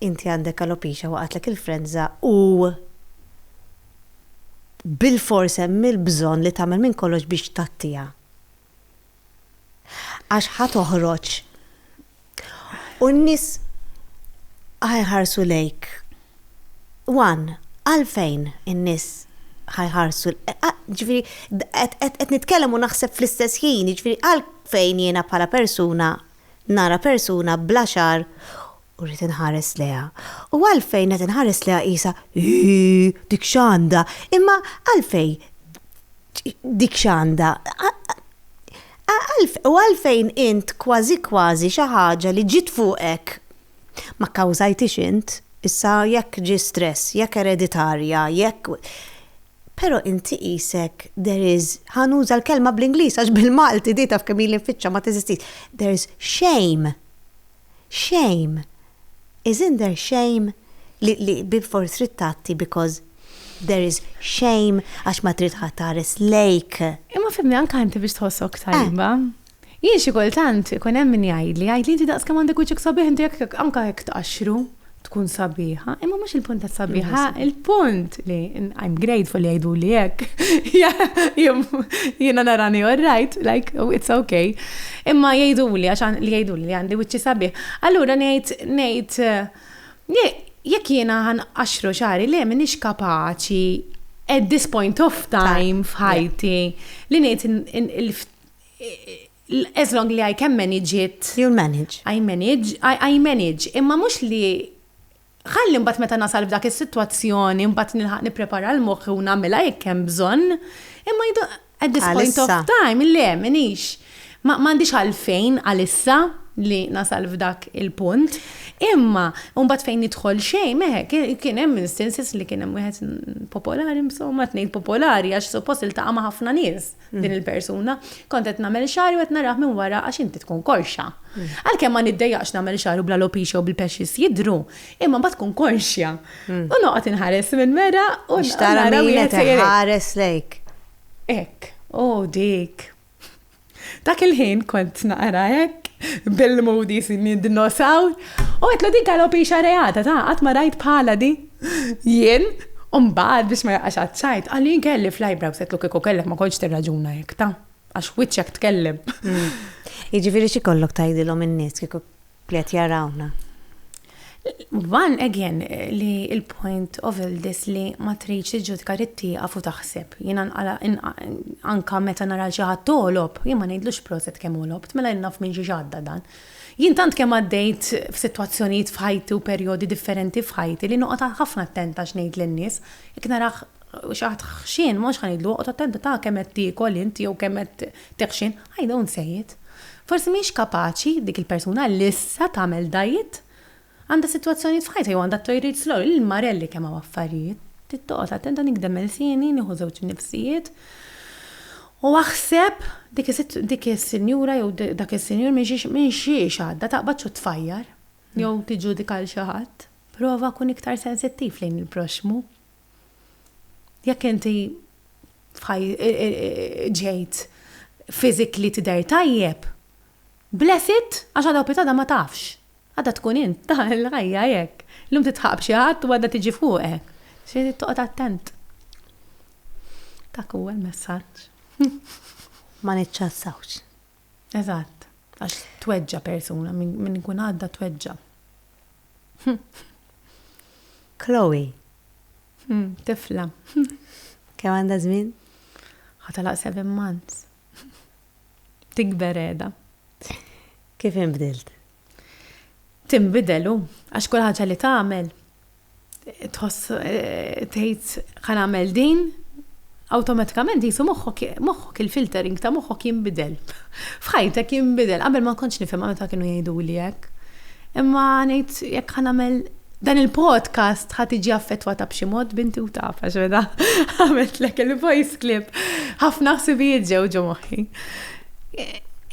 inti għandek alopecia waqgħatlek il-frenża u bilfors hemm il-bżonn li tagħmel minn kollox biex tgħattiha? Għax ħa toħroġ u n-nies ħa jħarsu lejk. Wan, għalfejn in-nies ħa jħarsu ġifieri qed nitkellem u naħseb fl-istess ħin, ġifieri għalfejn jiena bħala persuna nara persuna bla xagħar U rrid inħares lejha. U għalfejn qed inħares lejha qisha, ii, dik x'għandha, imma għalfej dik x'għandha? U għalfejn int kważi kważi xi ħaġa li ġiet fuqek ma kkawżajthiex int, issa jekk ġie stress, jekk ereditarja, jekk. Però inti qisek there is, ħa nuża l-kelma bl-Ingliż għax bil-Malti di taf kemm ili nfittxha ma teżistix, there is shame. shame, is in there shame li li bilfors trid tgħatti because there is shame għax ma trid ħadd iħares lejk. Imma fimni anke inti biex tħossok tajba. Jien xi kultant ikun hemm min jgħidli, jgħidli inti daqs kemm għandek wiċċek sabiħ inti jekk anke jekk tqaxxru. tkun sabiħa, imma mhux il-punt ta' sabiħa, il-punt li I'm grateful li jgħidu li hekk. Jiena narani all right, like oh, it's okay. Imma jgħidu li għax li jgħidu li għandi wiċċi sabiħ. Allura ngħid ngħid eh, jekk jiena għan għaxru xari le minix kapaċi at this point of time f'ħajti li ngħid As long li I can manage it. You'll manage. I manage, I, I manage. Imma mhux li ħalli mbagħad meta nasal f'dak is-sitwazzjoni mbagħad nilħaq nipprepara l-moħħi u nagħmilha jekk hemm bżonn. Imma jdu at this point of time, le, minix. Ma m'għandix għalfejn għalissa li nasal f'dak il-punt. Imma mbagħad fejn nidħol xejn, meħe, kien hemm instances li kien hemm wieħed popolari, insomma, tnejn popolari għax suppost iltaqa' ma' ħafna nies. din mm. il-persuna, kont qed nagħmel xari u qed narah minn wara għax inti tkun korxa. Mm. Għalkemm ma niddejjaqx nagħmel xari u bla lopixa u bil-pexxis jidru, imma ma tkun korxja. Mm. U noqgħod inħares minn mera u xtara minn qed ħares lejk. Ek, u dik. Dak il-ħin kont naqra hekk bil-modi sinni dinosaw. U għetlu dik għalopi xarejata ta' għat ma rajt bħala di. Jien, u mbagħad biex ma jaqax għaċ-ċajt, qal li jien kelli fl-eyebrows qedtlu kieku kellek ma kontx tirraġuna hekk, ta? Għax wiċċek tkellem. Jiġifieri xi jkollok tgħidilhom in-nies kieku li qed jarawna? One again li l-point of all this li ma tridx tiġġudika trid tieqaf u taħseb. Jiena anka meta nara xi ħadd għolob, jien ma ngħidlux proset kemm għolobt, mela jien naf minn xiex għadda dan. Jien tant kemm għaddejt f'sitwazzjonijiet f'ħajti u perjodi differenti f'ħajti li noqgħod ħafna attenta x'ngħid lin-nies. Jekk narah xi ħadd ħxien, mhux ħa ngħidlu, oqgħod attenta ta' kemm qed tiekol int jew kemm qed tiħxin. I don't say it. Forsi mhix kapaċi dik il-persuna li issa tagħmel diet Għandha sitwazzjonijiet f'ħajtha jew għandha t-tojriet slow, lil Marelli kemm hawn affarijiet. Trid toqgħod attenta nigdem ilsieni, nieħu żewġ nifsijiet u aħseb dik is-sinjura jew dak is-sinjur minn xiex għadda, taqbadx u tfajjar jew tiġġudika 'l xi ħadd. Prova kun iktar sensittiv lejn il-proxxmu. Jekk inti ġejt physically tidher tajjeb, Bless it, għax għada u pitada ma tafx. Għada tkun int, ta, il-ħajja hekk. Llum titħaqq b'xi ħadd u għada tiġi fuqek. Trid toqgħod attent. Dak huwa l-messaġġ. Ma niċċassawx. Eżatt. Għax tweġġa' persuna, min ikun għadda tweġġa'. Chloe. Tifla. Kemm għandha żmien? Ħa telaq seven months. Tikber qiegħda. Kif inbdilt? Tinbidel hu, għax kull ħaġa li tagħmel tħoss tgħid ħa nagħmel din, awtomatikament jisu moħħok moħħok il-filtering ta' moħħok jinbidel. F'ħajtek jinbidel, qabel ma kontx nifhimha meta kienu jgħiduli hekk. Imma ngħid jekk ħa nagħmel Dan il-podcast ħat iġi affettwata b'xi mod binti u taf għax meta għamilt lek il-voice clip ħafna ħsibijiet ġew ġo moħħi.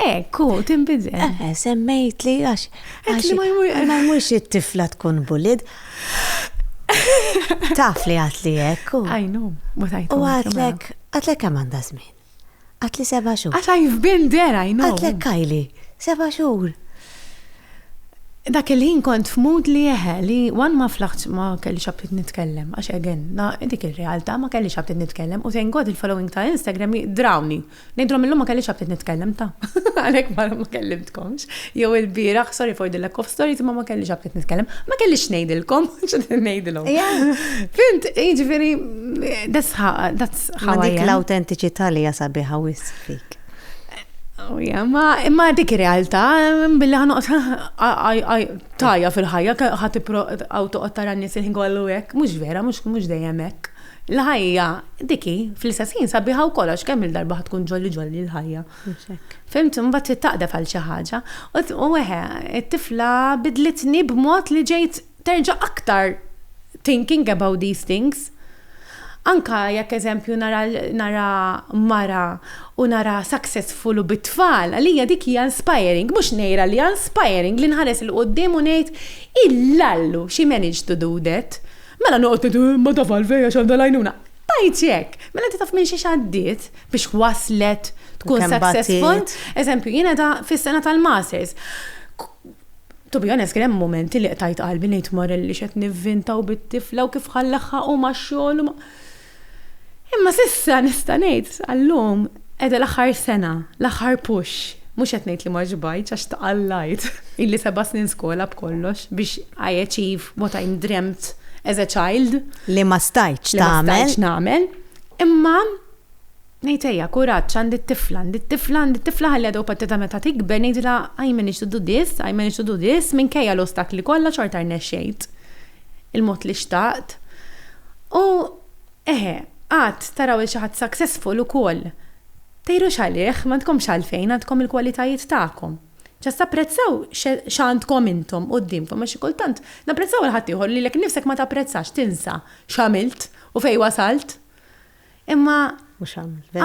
Ekku, timbidel. Eh, eh, semmejt li għax. Għax li ma jmurx it-tifla tkun bulid. Taf li għat li ekku. Għajnu, ma tajtu. U għatlek, għatlek għamanda zmin. Għatli seba' xhur. Għad I've been there, I know. Għatlek Kylie, seba' xhur. Dak il-ħin kont f'mood li eħe, li one ma flaħtx ma kellix aptit nitkellem, għax again, na dik ir-realtà, ma kellix aptit nitkellem, u thank God il-following ta' Instagram drawni. Ngħidilhom illum ma kellix aptit nitkellem ta'. Għalhekk ma kellimtkomx. Jew il-bieraħ, sorry for the lack of stories, ma ma kellix għabtet nitkellem, ma kellix ngħidilkom, x'għad ngħidilhom. Fint, jiġifieri that's how that's how. Dik l-awtentiċità li jasa biha wis fik. Oh, ma imma dik realtà billi ħanoqgħod tajja fil-ħajja ħadd għaw toqgħod tara n-nies il-ħin kollu hekk, mhux vera, mhux mhux dejjem hekk. Il-ħajja diki fl-istess ħin sabiħa wkoll għax kemm il-darba ħatkun ġolli ġolli l-ħajja. Mhux hekk. Fhimtu, imbagħad trid taqdef għal xi ħaġa. U eħe, it-tifla bidlitni b'mod li ġejt terġa' aktar thinking about these things. Anke jekk eżempju nara nara mara u nara successful u bit-tfal, għalija dik hija inspiring, mhux ngħira li inspiring li nħares 'il quddiem u ngħid, Illallu, she managed to do that. Mela noqgħod ngħid, imma taf għalfejn għax għandha l-għajnuna. Tajt jekk! Mela inti taf minn xiex għaddiet biex waslet tkun successful. Eżempju, jiena da fis-sena tal-masters. To be honest, kien hemm momenti li qtajt qalbi ngħid Morel li xed nivvinta u bit-tifla u kif ħallaħħa u ma' xogħol u ma' Imma sissa nista' ngħid għallum Qiegħda l-aħħar sena, l-aħħar push. Mhux qed ngħid li ma xbajtx għax tqallajt. Illi seba' snin skola b'kollox biex I achieve what I dreamt as a child. Li ma stajtx tagħmel. Li ma stajtx nagħmel. Imma ngħid ejja, kuraġġ, għandi t-tifla, għandi t-tifla, għandi t-tifla ħalliha dewpattitha meta tikber ngħidilha I managed to do this, I managed to do this, minkejja l-ostakli kollha xorta rnexxejt il-mod li xtaqt. U. Eħe, għad taraw 'il xi ħadd successful ukoll. Tgħirux għalih, m'għandkomx għalfejn, għandkom il-kwalitajiet tagħkom. Just apprezzaw x'għandkom intom quddiemkom għax xi kultant napprezzaw għal ħaddieħor lilek innifsek ma tapprezzax, tinsa x'għamilt u fejn wasalt. Imma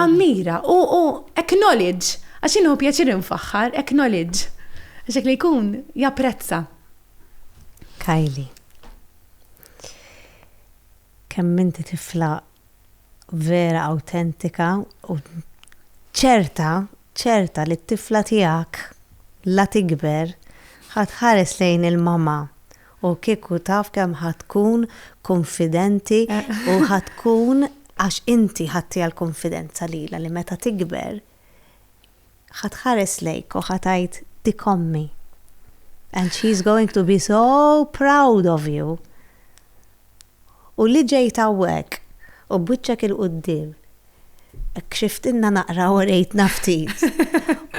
ammira u acknowledge għax jien nieħu pjaċir infaħħar, acknowledge għax dak li jkun japprezza. Kylie. kemm inti tifla vera awtentika u ċerta, ċerta li t-tifla tiegħek la tikber ħa tħares lejn il-mama u kieku taf kemm ħa tkun kunfidenti u ħa tkun għax inti ħadtiha l-kunfidenza lilha li meta tikber Ħa tħares lejk u ħa tgħid dik ommi. And she is going to be so proud of you. U li ġejt hawnhekk u b'wiċċek 'il quddiem kxiftilna naqra u rejtna ftit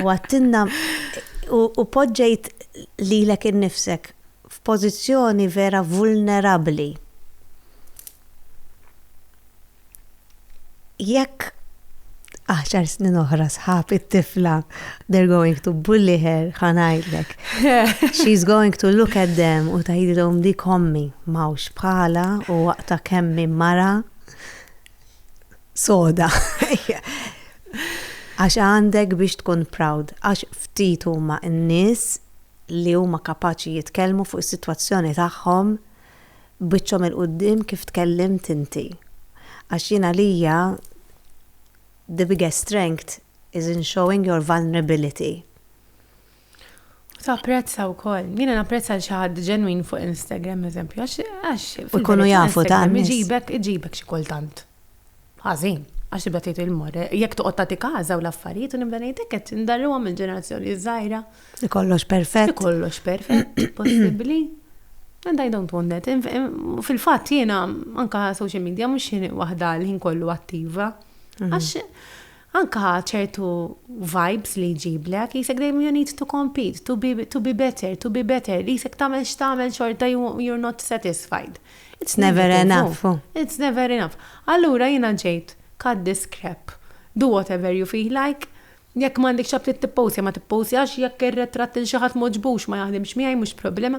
u għedtilna u poġġejt lilek innifsek f'pożizzjoni vera vulnerabbli. Jekk għaxar snin oħra sħab it-tifla, they're going to bully her, ħanajdlek. She's going to look at them u tajdilhom di kommi, mawx bħala u waqta kemmi mara soda. Għax għandek biex tkun proud, għax ftit huma n-nies li huma kapaċi jitkellmu fuq is-sitwazzjoni tagħhom B'wiċċhom 'il quddiem kif tkellimt inti. Għax jien għalija the biggest strength is in showing your vulnerability. U tapprezza wkoll. Jiena napprezza l xi ħadd ġenwin fuq Instagram eżempju għax għax. U jkunu jafu ta' nies. Iġibek iġibek xi kultant. Ħażin, għax tibda tgħid il-mor, jekk toqgħod tagħti każa u l-affarijiet u nibda ngħid hekk qed indarruhom il-ġenerazzjoni żgħira. Li kollox perfett. Li kollox perfett, possibbli. And I don't want that. Fil-fatt jiena anka social media mhux waħda l-ħin kollu attiva. Mhm. Għax Anka ċertu vibes li jġiblek, qisek dejjem you need to compete, to be to be better, to be better, qisek tagħmel x'tagħmel xorta you you're not satisfied. It's never enough. It's never enough. Allura jiena ġejt cut this crap. Do whatever you feel like. Jekk m'għandekx ħabtiet tipposja ma tipposjax, jekk ir-retratt 'il xi ħadd m'għoġbux ma jaħdimx miegħi mhux problema.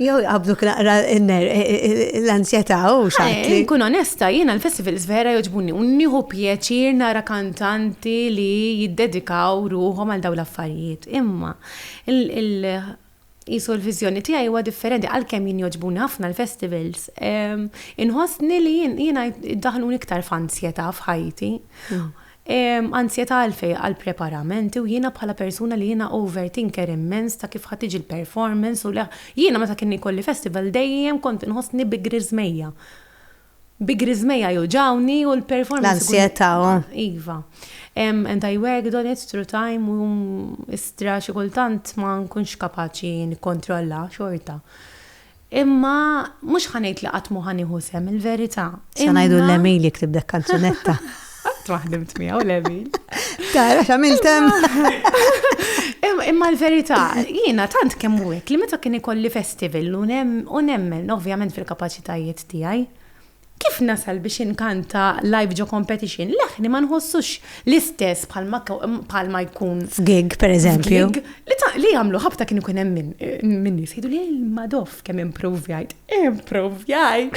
Jew jaqbduk naqra l-ansjetà u xaħti. Eh, Kun onesta, jiena l-festivals vera joġbuni u nieħu pjaċir nara kantanti li jiddedikaw ruħhom għal dawn l-affarijiet. Imma jisu l-viżjoni tiegħi huwa differenti għalkemm jien joġbuni ħafna l-festivals. Ehm, inħossni li jiena daħlun iktar f'ansjetà f'ħajti. Hmm. Hemm anzjetà għalfejn għal preparamenti u jiena bħala persuna li jiena overthinker immens ta' kif ħa tiġi l-performance u li jiena meta kien ikolli festival dejjem kont inħossni bi griżmejja. Bi griżmejja juġgħuni u l-performance ikun. L-anzjetà, oh. Iva. And I worked on it through time u istra xi kultant ma nkunx kapaċi nikkontrollha xorta. Imma mhux ħa ngħid li qatt mhu ħa nieħu sehem, il-verità. Se ngħidu l-Emil jiktib dak kanzunetta. Qatt ma ħdimt miegħu l-Emil. Tara x'għamilt hemm. Imma l-verità, jiena tant kemm hekk li meta kien ikolli festival u nemmen ovvjament fil-kapaċitajiet tiegħi. Kif nasal biex inkanta live ġo competition? Leħni ma nħossux l-istess bħalma jkun. F'gig, pereżempju. F'gig li jagħmlu ħabta kien ikun hemm min nies jgħidu li madoff kemm improvjajt. Improvjajt!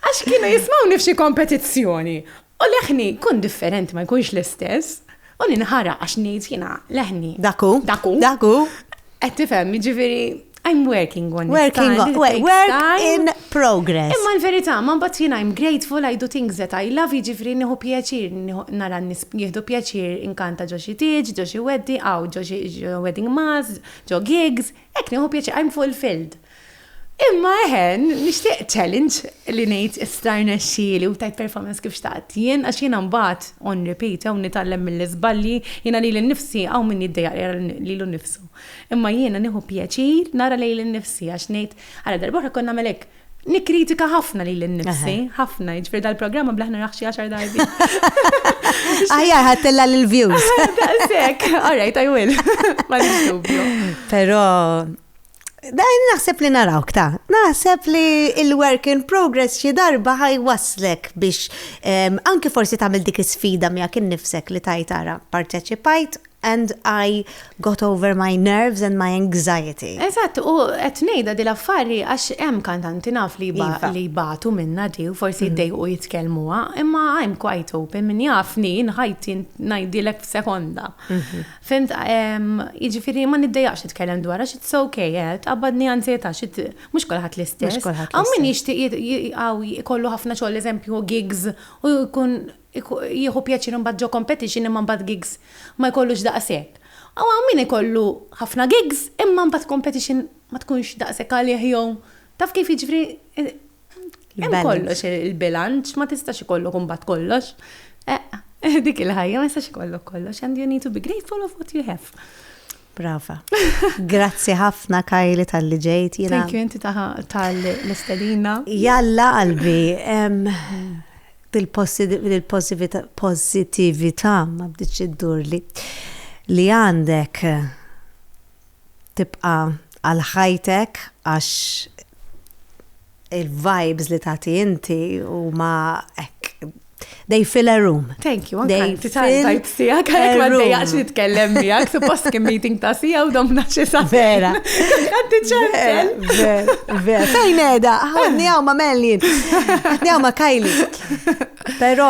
Għax kienu jismgħuni f'xi kompetizzjoni. U leħni jkun differenti ma jkunx l-istess, u ninħara għax ngħid jiena leħni. Dak hu. Dak hu. Dak hu. Qed tifhem, jiġifieri I'm working on it. Working on it. Work in progress. Imma l-verità, ma mbagħad jiena I'm grateful, I do things that I love, jiġifieri nieħu pjaċir, nara n-nies jieħdu pjaċir inkanta ġo xi tieġ, ġo xi weddi, hawn ġo xi wedding mass, ġo gigs, hekk nieħu pjaċir, I'm fulfilled. Imma eħe, nixtieq challenge li ngħid issa rnexxieli u tajt performance kif xtaqt jien għax jiena mbagħad on repeat u nitgħallem mill-iżbalji, jiena lili nnifsi hawn min jiddejjaq jara lilu nnifsu. Imma jiena nieħu pjaċir nara lili nnifsi għax ngħid, ara darba oħra kont nagħmel hekk, nikkritika ħafna lili nnifsi, ħafna, jiġifieri dal-programm nblah naraħ xi għaxar darbi. Aħjar ħadtilha l-views. Daqshekk, all right, I will. Ma nix dubju. Però Dajn naħseb li narawk ta' naħseb li il-work in progress xi darba ħaj waslek biex ehm, anki forsi tagħmel dik is-sfida miegħek innifsek li tajt ara parteċipajt and I got over my nerves and my anxiety. Eżatt, u qed ngħidha di l-affari għax hemm kantanti naf li ba- Iva. li jbatu minna di u forsi jdejqu jitkellmuha, imma I'm quite open min jafni nħajti ngħidilek f'sekonda. Fhimt, jiġifieri ma niddejjaqx nitkellem dwarha, xi it's ok, tqabbadni anzjetà, xi mhux kulħadd l-istess. Hawn min jixtieq hawn ikollu ħafna xogħol eżempju gigs u jkun jieħu pjaċir imbagħad ġo competition imma mbagħad gigs ma jkollux daqshekk. U hawn min ikollu ħafna gigs imma mbagħad competition ma tkunx daqshekk għalih jew taf kif jiġifieri Hemm kollox il-bilanċ, ma tistax ikollok imbagħad kollox. Eh, dik il-ħajja ma jistax ikollok kollox, and you need to be grateful of what you have. Brava. Grazzi ħafna Kajli tal-li ġejt. Thank you inti tal-istedina. Jalla qalbi, bil-positivita ma bdiċ id-dur li għandek tibqa' għal ħajtek għax il-vibes li tagħti inti huma hekk they fill a room. Thank you, anka inti tajt sija, għalek ma dejjaqx nitkellem miegħek, suppost kien meeting ta' sija u dom naċi sa' vera. Għanti ċansel. Vera, vera. Fejn edha, għanni għaw ma' Melli, għanni għaw ma' Kajli. Pero,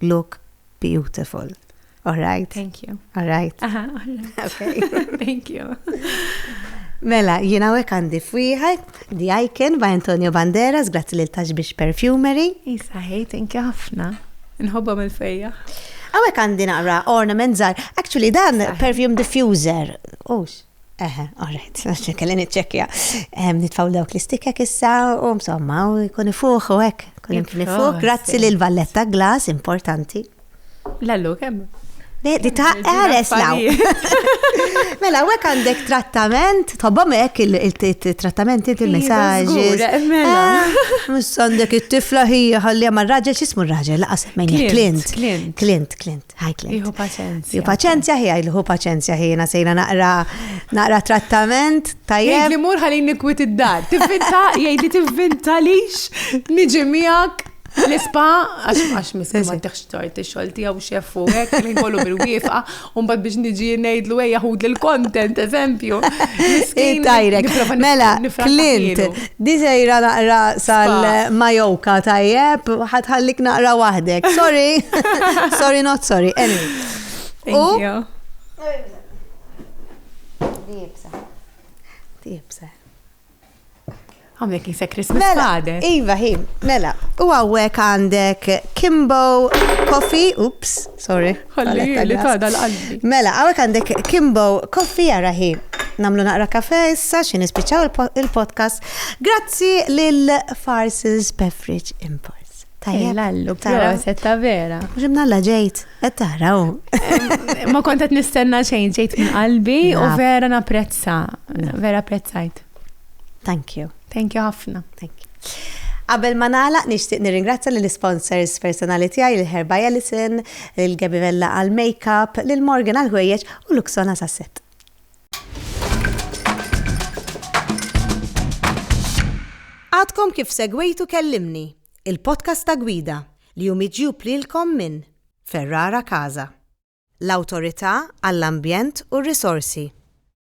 look beautiful. All right? Thank you. All right? Aha, all right. Okay. Thank you. Mela, jina għek għandi fwiħaj, The Icon by Antonio Banderas, grazzi li l-tax biex perfumery. Isa, hej, thank you ħafna. Nħobba mill fejja. Għawek għandi naqra ornament zar. Actually, dan perfume diffuser. Ux. Eħe, all right, għax kelli niċċekkja. Nitfaw dawk l-istikek issa u msomma u jkun ifuħ u hekk. Kun jkun ifuħ, grazzi lil Valletta Glass, importanti. Lallu, kemm? Di ta' għares law. Mela, għek għandek trattament, tobba mek il-trattament inti il-messagġi. Mux għandek il-tifla ħija ħalli għamma raġel, xismu raġel, laqas mejn Clint. Clint, Clint. tħajtlet. Iħu paċenzja. Iħu paċenzja ħi, iħu paċenzja ħi, jena sejna naqra, naqra trattament, tajjeb. Jgħid li mur ħalli nikwit id-dar, tivvinta, jgħid li tivvinta lix, niġi miegħek. L-ispa, għax għax miskin ma teħx tort il-xol tijaw xefu, għek, li kollu bil-wifqa, un bad biex nġi nejdlu għeja hud l-content, eżempju. Tajrek, mela, Clint, Di sejra naqra sal-majoka tajjeb, ħatħallik naqra waħdek. Sorry, sorry not sorry. Anyway. Thank you. Dibsa. Dibsa. Għamlek jisa Christmas mela, għadek. Iva, hi, mela. U għawek għandek Kimbo Coffee, ups, sorry. Ħalli li tada l-qalbi. Mela, għawek għandek Kimbo Koffi għaraħi. Namlu naqra kafe issa xin ispiċaw il-podcast. Grazzi lil Farses Beverage Imports. Tajja. Lallu, proset, ta' vera. Ġimna la ġejt, et taraw. Ma kontet nistenna xejn ġejt minn qalbi u vera naprezza. Vera prezzajt. Thank you. Thank you ħafna. Thank you. Qabel ma nagħlaq nixtieq nirringrazzja lill-isponsors personali tiegħi lil Herr Baialison, lil Gabby Vella għall-makeup, lil Morgan għall-ħwejjeġ u Luxona sas-set. Għadkom kif segwejtu Kellimni, il-podcast ta' Gwida, li hu miġjub lilkom minn Ferrara Casa, l-Awtorità għall-Ambjent u r-Risorsi.